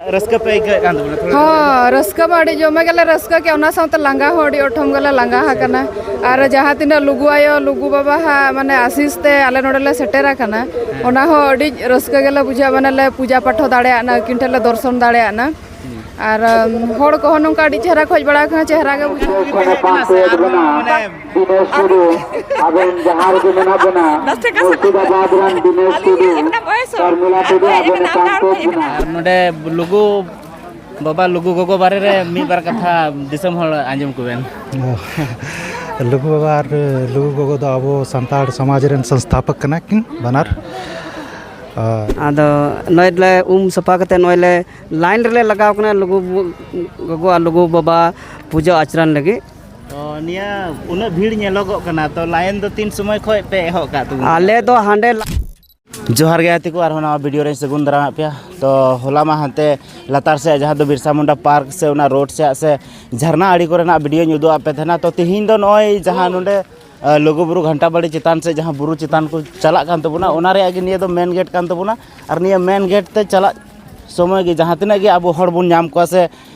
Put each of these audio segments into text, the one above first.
ᱨᱟᱹᱥᱠᱟᱹ ᱯᱮ ᱟᱹᱭᱠᱟᱹᱣᱮᱫ ᱠᱟᱱ ᱛᱟᱵᱚᱱᱟ ᱛᱷᱚᱲᱟ ᱦᱚᱸ ᱨᱟᱹᱥᱠᱟᱹ ᱢᱟ ᱟᱹᱰᱤ ᱡᱚᱢᱮ ᱜᱮᱞᱮ ᱨᱟᱹᱥᱠᱟᱹ ᱠᱮᱜᱼᱟ ᱚᱱᱟ ᱥᱟᱶᱛᱮ ᱞᱟᱸᱜᱟ ᱦᱚᱸ ᱟᱹᱰᱤ ᱚᱴᱷᱚᱢ ᱜᱮᱞᱮ ᱞᱟᱸᱜᱟ ᱟᱠᱟᱱᱟ ᱟᱨ ᱡᱟᱦᱟᱸ ᱛᱤᱱᱟᱹᱜ ᱞᱩᱜᱩ ᱟᱭᱳ ᱞᱩᱜᱩ ᱵᱟᱵᱟ ᱦᱟᱸᱜ ᱢᱟᱱᱮ ᱟᱥᱤᱥ ᱛᱮ ᱟᱞᱮ ᱱᱚᱰᱮ ᱞᱮ ᱥᱮᱴᱮᱨ ᱟᱠᱟᱱᱟ ᱚᱱᱟ ᱦᱚᱸ ᱟᱹᱰᱤ ᱨᱟᱹᱥᱠᱟᱹ ᱜᱮᱞᱮ ᱵᱩᱡᱷᱟᱹᱣᱟ ᱢᱟᱱᱮ ᱞᱮ ᱯᱩᱡᱟ ᱯᱟᱴᱷ ᱦᱚᱸ ᱫᱟᱲᱮᱭᱟᱜ ᱱᱟ ᱟᱹᱠᱤᱱ ᱴᱷᱮᱱ ᱞᱮ ᱫᱚᱨᱥᱚᱱ ᱫᱟᱲᱮᱭᱟᱜ ᱱᱟ ᱟᱨ ᱦᱚᱲ ᱠᱚᱦᱚᱸ ᱱᱚᱝᱠᱟ ᱟᱹᱰᱤ ᱪᱮᱦᱨᱟ ᱠᱷᱚᱡ ᱵᱟᱲᱟ ᱠᱟᱱᱟ ᱪᱮᱦᱨᱟ ᱜᱮ ᱵᱩᱡᱷᱟᱹᱜ ᱠᱟᱱᱟ ᱥᱮ ᱟᱨᱦᱚᱸ ᱢᱟᱱᱮ ᱫᱤᱱᱮᱥ ᱴᱩᱰᱩ ᱟᱵᱮᱱ ᱡᱟᱦᱟᱸ ᱨᱮᱜᱮ ᱢᱮᱱᱟᱜ ᱵᱮᱱᱟ ᱢᱩᱨᱥᱤᱫᱟᱵᱟᱫ ᱨᱮᱱ ᱫᱤᱱᱮᱥ ᱴᱩᱰᱩ ᱥᱚᱨᱢᱤᱞᱟ ᱴᱩᱰᱩ ᱟᱵᱮᱱ ᱮᱠᱟᱱ ᱛᱮ ᱵᱮᱱᱟ ᱱᱚᱰᱮ ᱞᱩᱜᱩ ᱵᱟᱵᱟ ᱞᱩᱜᱩ ᱜᱚᱜᱚ ᱵᱟᱨᱮ ᱨᱮ ᱢᱤᱫ ᱵᱟᱨ ᱠᱟᱛᱷᱟ ᱫᱤᱥᱚᱢ ᱦᱚᱲ ᱟᱸᱡᱚᱢ ᱠᱚᱵᱮᱱ ᱞᱩᱜᱩ ᱵᱟᱵᱟ ᱟᱨ ᱞᱩᱜᱩ ᱜᱚᱜᱚ ᱫᱚ ᱟᱵᱚ ᱥᱟᱱᱛᱟᱲ ᱥᱚᱢᱟᱡᱽ ᱨᱮᱱ ᱥᱚᱝᱥᱛᱷᱟᱯᱚᱠ ᱠᱟᱱᱟ ᱠᱤᱱ ᱵᱟᱱᱟᱨ ᱟᱫᱚ ᱱᱚᱜᱼᱚᱭ ᱞᱮ ᱩᱢ ᱥᱟᱯᱷᱟ ᱠᱟᱛᱮᱫ ᱱᱚᱜᱼᱚᱭ ᱞᱮ ᱞᱟᱭᱤᱱ ᱨᱮᱞᱮ ᱞᱟᱜᱟᱣ ᱠᱟᱱᱟ ᱞᱩᱜᱩ ᱜᱚᱜᱚ ᱟᱨ ᱞᱩᱜᱩ ᱵᱟᱵᱟ ᱯᱩᱡᱟᱹ ᱟᱪᱨᱟ ᱞᱟᱹᱜᱤᱫ ᱡᱚᱦᱟᱨ ᱜᱮ ᱜᱟᱛᱮ ᱠᱚ ᱟᱨᱦᱚᱸ ᱱᱟᱣᱟ ᱵᱷᱤᱰᱤᱭᱳ ᱨᱮᱧ ᱥᱟᱹᱜᱩᱱ ᱫᱟᱨᱟᱢᱟᱜ ᱯᱮᱭᱟ ᱛᱚ ᱦᱚᱞᱟ ᱢᱟ ᱦᱟᱱᱛᱮ ᱞᱟᱛᱟᱨ ᱥᱮᱫ ᱡᱟᱦᱟᱸ ᱫᱚ ᱵᱤᱨᱥᱟ ᱢᱩᱱᱰᱟ ᱯᱟᱨᱠ ᱥᱮ ᱚᱱᱟ ᱨᱳᱰ ᱥᱮᱫ ᱥᱮ ᱡᱷᱟᱨᱱᱟ ᱟᱲᱮ ᱠᱚᱨᱮᱱᱟᱜ ᱵᱷᱤᱰᱤᱭᱳᱧ ᱩᱫᱩᱜ ᱟᱯᱮ ᱛᱟᱦᱮᱱᱟ ᱛᱚ ᱛᱤᱦᱤᱧ ᱫᱚ ᱱᱚᱜᱼᱚᱭ ᱡᱟᱦᱟᱸ ᱱᱚᱰᱮ ᱞᱩᱜᱩ ᱵᱩᱨᱩ ᱜᱷᱟᱱᱴᱟ ᱵᱟᱲᱤ ᱪᱮᱛᱟᱱ ᱥᱮ ᱡᱟᱦᱟᱸ ᱵᱩᱨᱩ ᱪᱮᱛᱟᱱ ᱠᱚ ᱪᱟᱞᱟᱜ ᱠᱟᱱ ᱛᱟᱵᱚᱱᱟ ᱚᱱᱟ ᱨᱮᱭᱟᱜ ᱜᱮ ᱱᱤᱭᱟᱹ ᱫᱚ ᱢᱮᱱ ᱜᱮᱴ ᱠᱟᱱ ᱛᱟᱵᱚᱱᱟ ᱟᱨ ᱱᱤᱭᱟᱹ ᱢᱮᱱ ᱜᱮᱴ ᱛᱮ ᱪᱟᱞᱟᱜ ᱥᱚᱢᱚᱭ ᱜᱮ ᱡᱟᱦᱟᱸ ᱛᱤᱱᱟᱹᱜ ᱜᱮ ᱟᱵᱚ ᱦᱚᱲ ᱵᱚᱱ ᱧᱟᱢ ᱠᱚᱣᱟ ᱥᱮ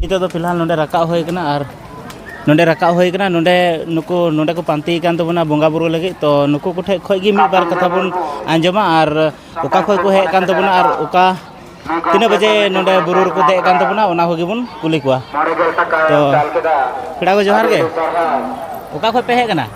ᱱᱤᱛᱚᱜ ᱫᱚ ᱯᱷᱤᱞᱦᱟᱞ ᱱᱚᱰᱮ ᱨᱟᱠᱟᱵ ᱦᱩᱭ ᱠᱟᱱᱟ ᱟᱨ ᱱᱚᱰᱮ ᱨᱟᱠᱟᱵ ᱦᱩᱭ ᱠᱟᱱᱟ ᱱᱚᱰᱮ ᱱᱩᱠᱩ ᱱᱚᱰᱮ ᱠᱚ ᱯᱟᱱᱛᱮ ᱠᱟᱱ ᱛᱟᱵᱚᱱᱟ ᱵᱚᱸᱜᱟ ᱵᱩᱨᱩ ᱞᱟᱹᱜᱤᱫ ᱛᱚ ᱱᱩᱠᱩ ᱠᱚ ᱴᱷᱮᱡ ᱠᱷᱚᱡ ᱜᱮ ᱢᱤᱫ ᱵᱟᱨ ᱠᱟᱛᱷᱟ ᱵᱚᱱ ᱟᱸᱡᱚᱢᱟ ᱟᱨ ᱚᱠᱟ ᱠᱷᱚᱡ ᱠᱚ ᱦᱮᱡ ᱠᱟᱱ ᱛᱟᱵᱚᱱᱟ ᱟᱨ ᱚᱠᱟ ᱛᱤᱱᱟᱹᱜ ᱵᱟᱡᱮ ᱱᱚᱰᱮ ᱵᱩᱨᱩ ᱨᱮᱠᱚ ᱫᱮᱡ ᱠᱟᱱ ᱛᱟᱵᱚᱱᱟ ᱚᱱᱟ ᱠᱚᱜᱮ ᱵᱚᱱ ᱠᱩᱞᱤ ᱠᱚᱣᱟ ᱛᱚ ᱯᱮᱲᱟ ᱠᱚ ᱡᱚᱦᱟᱨ ᱜᱮ ᱚᱠᱟ ᱠᱷᱚᱡ ᱯᱮ ᱦᱮᱡ ᱠᱟᱱᱟ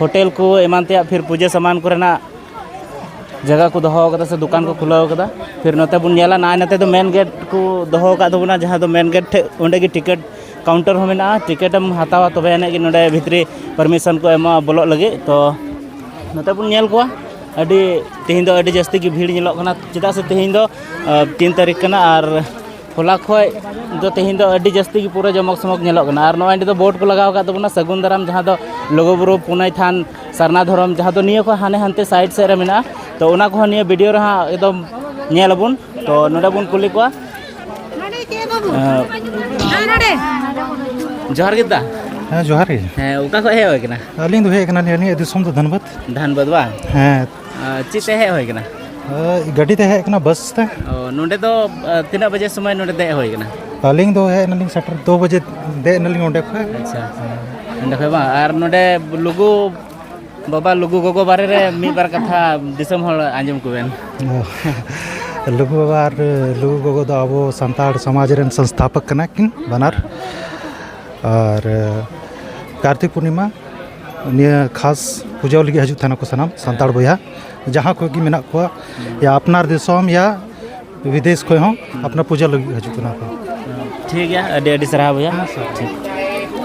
ᱦᱳᱴᱮᱞ ᱠᱚ ᱮᱢᱟᱱ ᱛᱮᱭᱟᱜ ᱯᱷᱤᱨ ᱯᱩᱡᱟᱹ ᱥᱟᱢᱟᱱ ᱠᱚᱨᱮᱱᱟᱜ ᱡᱟᱭᱜᱟ ᱠᱚ ᱫᱚᱦᱚ ᱠᱟᱫᱟ ᱥᱮ ᱫᱚᱠᱟᱱ ᱠᱚ ᱠᱷᱩᱞᱟᱹᱣ ᱠᱟᱫᱟ ᱯᱷᱤᱨ ᱱᱚᱛᱮ ᱵᱚᱱ ᱧᱮᱞᱟ ᱱᱟᱭ ᱱᱚᱛᱮ ᱫᱚ ᱢᱮᱱ ᱜᱮᱴ ᱠᱚ ᱫᱚᱦᱚ ᱠᱟᱜ ᱛᱟᱵᱚᱱᱟ ᱡᱟᱦᱟᱸ ᱫᱚ ᱢᱮᱱ ᱜᱮᱴ ᱴᱷᱮᱡ ᱚᱸᱰᱮ ᱜᱮ ᱴᱤᱠᱤᱴ ᱠᱟᱣᱩᱱᱴᱟᱨ ᱦᱚᱸ ᱢᱮᱱᱟᱜᱼᱟ ᱴᱤᱠᱤᱴ ᱮᱢ ᱦᱟᱛᱟᱣᱟ ᱛᱚᱵᱮ ᱟᱹᱱᱤᱡ ᱜᱮ ᱱᱚᱰᱮ ᱵᱷᱤᱛᱨᱤ ᱯᱟᱨᱢᱤᱥᱚᱱ ᱠᱚ ᱮᱢᱚᱜᱼᱟ ᱵᱚᱞᱚᱜ ᱞᱟᱹᱜᱤᱫ ᱛᱚ ᱱᱚᱛᱮ ᱵᱚᱱ ᱧᱮᱞ ᱠᱚᱣᱟ ᱟᱹᱰᱤ ᱛᱮᱦᱮᱧ ᱫᱚ ᱟᱹᱰᱤ ᱡᱟᱹᱥᱛᱤ ᱜᱮ ᱵᱷᱤᱲ ᱧᱮᱞᱚᱜ ᱠᱟᱱᱟ ᱪᱮᱫᱟᱜ ᱥᱮ ᱛᱮᱦᱮᱧ ᱫᱚ ᱛᱤᱱ ᱛᱟᱹᱨᱤᱠᱷ ᱠᱟᱱᱟ ᱟᱨ ᱦᱚᱞᱟ ᱠᱷᱚᱡ ᱫᱚ ᱛᱮᱦᱮᱧ ᱫᱚ ᱟᱹᱰᱤ ᱡᱟᱹᱥᱛᱤ ᱜᱮ ᱯᱩᱨᱟᱹ ᱡᱚᱢᱚᱠ ᱥᱚᱢᱚᱠ ᱧᱮᱞᱚᱜ ᱠᱟᱱᱟ ᱟᱨ ᱱᱚᱜᱼᱚᱸᱭ ᱱᱤᱛᱚᱜ ᱫᱚ ᱵᱳᱨᱰ ᱠᱚ ᱞᱟᱜᱟᱣ ᱠᱟᱜ ᱛᱟᱵᱚᱱᱟ ᱥᱟᱹᱜᱩᱱ ᱫᱟᱨᱟᱢ ᱡᱟᱦᱟᱸ ᱫᱚ ᱞᱩᱜᱩᱼᱵᱩᱨᱩ ᱯᱩᱱᱟᱹᱭ ᱛᱷᱟᱱ ᱥᱟᱨᱱᱟ ᱫᱷᱚᱨᱚᱢ ᱡᱟᱦᱟᱸ ᱫᱚ ᱱᱤᱭᱟᱹ ᱠᱷᱚᱡ ᱦᱟᱱᱮ ᱦᱟᱱᱛᱮ ᱥᱟᱭᱤᱰ ᱥᱮᱫ ᱨᱮ ᱢᱮᱱᱟᱜᱼᱟ ᱛᱚ ᱚᱱᱟ ᱠᱚᱦᱚᱸ ᱱᱤᱭᱟᱹ ᱵᱷᱤᱰᱤᱭᱳ ᱨᱮ ᱦᱟᱸᱜ ᱮᱠᱫᱚᱢ ᱧᱮᱞ ᱟᱵᱚᱱ ᱛᱚ ᱱᱚᱰᱮ ᱵᱚᱱ ᱠᱩᱞᱤ ᱠᱚᱣᱟ ᱡᱚᱦᱟᱨ ᱜᱮ ᱫᱟ ᱦᱮᱸ ᱡᱚᱦᱟᱨ ᱜᱮ ᱦᱮᱸ ᱚᱠᱟ ᱠᱷᱚᱡ ᱦᱮᱡ ᱦᱩᱭ ᱠᱟᱱᱟ ᱟᱹᱞᱤᱧ ᱫᱚ ᱦᱮᱡ ᱠᱟᱱᱟᱞᱤᱧ ᱟᱹᱞᱤᱧᱟᱜ ᱫᱤᱥᱚᱢ ᱫᱚ ᱫᱷᱟᱱᱵᱟᱫᱽ ᱫᱷᱟᱱᱵᱟᱫᱽ ᱵᱟᱝ ᱦᱮᱸ ᱪᱮᱫ ᱛᱮ ᱦᱮᱡ ᱦᱩᱭ ᱠᱟᱱᱟ ᱜᱟᱹᱰᱤ ᱛᱮ ᱦᱮᱡ ᱠᱟᱱᱟ ᱵᱟᱥ ᱛᱮ ᱱᱚᱰᱮ ᱫᱚ ᱛᱤᱱᱟᱹᱜ ᱵᱟᱡᱮ ᱥᱚᱢᱚᱭ ᱱᱚᱰᱮ ᱫᱮᱡ ᱦᱩᱭ ᱠᱟᱱᱟ ᱟᱹᱞᱤᱧ ᱫᱚ ᱦᱮᱡ ᱮᱱᱟᱞᱤᱧ ᱥᱮᱴᱮᱨ ᱫᱩ ᱵᱟᱡᱮ ᱫᱮᱡ ᱮᱱᱟᱞᱤᱧ ᱚᱸᱰᱮ ᱠᱷᱚᱡ ᱟᱪᱪᱷᱟ ᱚᱸᱰᱮ ᱠᱷᱚᱡ ᱵᱟᱝ ᱟᱨ ᱱᱚᱰᱮ ᱞᱩᱜᱩ ᱵᱟᱵᱟ ᱞᱩᱜᱩ ᱜᱚᱜᱚ ᱵᱟᱨᱮ ᱨᱮ ᱢᱤᱫ ᱵᱟᱨ ᱠᱟᱛᱷᱟ ᱫᱤᱥᱚᱢ ᱦᱚᱲ ᱟᱸᱡᱚᱢ ᱠᱚᱵᱮᱱ ᱞᱩᱜᱩ ᱵᱟᱵᱟ ᱟᱨ ᱞᱩᱜᱩ ᱜᱚᱜᱚ ᱫᱚ ᱟᱵᱚ ᱥᱟᱱᱛᱟᱲ ᱥᱚᱢᱟᱡᱽ ᱨᱮᱱ ᱥᱚᱝᱥᱛᱷᱟᱯᱚᱠ ᱠᱟᱱᱟ ᱠᱤᱱ ᱵᱟᱱᱟᱨ ᱟᱨ ᱠᱟᱨᱛᱤᱠ ᱯᱩᱨᱱᱤᱢᱟ ᱱᱤᱭᱟᱹ ᱠᱷᱟᱥ ᱯᱩᱡᱟᱹ ᱞᱟᱹᱜᱤᱫ ᱦᱤᱡᱩᱜ ᱛᱟᱦᱮᱱᱟᱠᱚ ᱥᱟᱱᱟᱢ ᱥᱟᱱᱛᱟᱲ ᱵᱚᱭᱦᱟ ᱡᱟᱦᱟᱸ ᱠᱷᱚᱱ ᱜᱮ ᱢᱮᱱᱟᱜ ᱠᱚᱣᱟ ᱭᱟ ᱟᱯᱱᱟᱨ ᱫᱤᱥᱚᱢ ᱭᱟ ᱵᱤᱫᱮᱥ ᱠᱷᱚᱱ ᱦᱚᱸ ᱟᱯᱱᱟᱨ ᱯᱩᱡᱟᱹ ᱞᱟᱹᱜᱤᱫ ᱦᱤᱡᱩᱜ ᱠᱟᱱᱟ ᱠᱚ ᱴᱷᱤᱠ ᱜᱮᱭᱟ ᱟᱹᱰᱤ ᱟᱹᱰᱤ ᱥᱟᱨᱦᱟᱣ ᱵᱚᱭᱦᱟ ᱴᱷᱤᱠ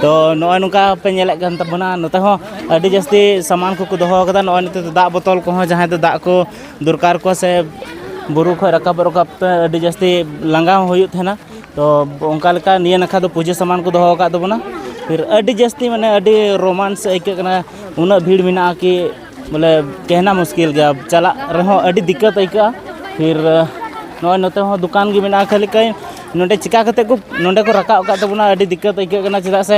ᱛᱚ ᱱᱚᱜᱼᱚᱭ ᱱᱚᱝᱠᱟ ᱯᱮ ᱧᱮᱞᱮᱫ ᱠᱟᱱ ᱛᱟᱵᱚᱱᱟ ᱱᱚᱛᱮ ᱦᱚᱸ ᱟᱹᱰᱤ ᱡᱟᱹᱥᱛᱤ ᱥᱟᱢᱟᱱ ᱠᱚᱠᱚ ᱫᱚᱦᱚ ᱠᱟᱫᱟ ᱱᱚᱜᱼᱚᱭ ᱱᱤᱛᱚᱜ ᱫᱚ ᱫᱟᱜ ᱵᱚᱛᱚᱞ ᱠᱚᱦᱚᱸ ᱡᱟᱦᱟᱸᱭ ᱫᱚ ᱫᱟᱜ ᱠᱚ ᱫᱚᱨᱠᱟᱨ ᱠᱚᱣᱟ ᱥᱮ ᱵᱩᱨᱩ ᱠᱷᱚᱱ ᱨᱟᱠᱟᱵ ᱨᱟᱠᱟᱵ ᱛᱮ ᱟᱹᱰᱤ ᱡᱟᱹᱥᱛᱤ ᱞᱟᱸᱜᱟ ᱦᱚᱸ ᱦᱩᱭᱩᱜ ᱛᱟᱦᱮᱱᱟ ᱛᱚ ᱚᱱᱠᱟ ᱞᱮᱠᱟ ᱱᱤᱭᱟᱹ ᱱᱟᱠᱷᱟ ᱫᱚ ᱯᱩᱡᱟᱹ ᱥᱟᱢᱟᱱ ᱠᱚ ᱫᱚᱦᱚ ᱟᱠᱟᱫ ᱛᱟᱵᱚᱱᱟ ᱯᱷᱤᱨ ᱟᱹᱰᱤ ᱡᱟᱹᱥᱛᱤ ᱢᱟᱱᱮ ᱟᱹᱰᱤ ᱨᱳᱢᱟᱱᱥ ᱟᱹᱭᱠᱟᱹᱜ ᱠᱟᱱᱟ ᱩᱱᱟᱹᱜ ᱵᱷᱤᱲ ᱢᱮᱱᱟᱜᱼᱟ ᱠᱤ ᱵᱚᱞᱮ ᱠᱮᱦᱱᱟ ᱢᱩᱥᱠᱤᱞ ᱜᱮᱭᱟ ᱪᱟᱞᱟᱜ ᱨᱮᱦᱚᱸ ᱟᱹᱰᱤ ᱫᱤᱠᱠᱟᱹᱛ ᱟᱹᱭᱠᱟᱹᱜᱼᱟ ᱯᱷᱤᱨ ᱱᱚᱜᱼᱚᱭ ᱱᱚᱛᱮ ᱦᱚᱸ ᱫᱚᱠᱟᱱ ᱜᱮ ᱢᱮᱱᱟᱜᱼᱟ ᱠᱷᱟᱹᱞᱤ ᱠᱟᱭ ᱱᱚᱰᱮ ᱪᱤᱠᱟᱹ ᱠᱟᱛᱮᱫ ᱠᱚ ᱱᱚᱰᱮ ᱠᱚ ᱨᱟᱠᱟᱵ ᱟᱠᱟᱫ ᱛᱟᱵᱚᱱᱟ ᱟᱹᱰᱤ ᱫᱤᱠᱠᱟᱹᱛ ᱟᱹᱭᱠᱟᱹᱜ ᱠᱟᱱᱟ ᱪᱮᱫᱟᱜ ᱥᱮ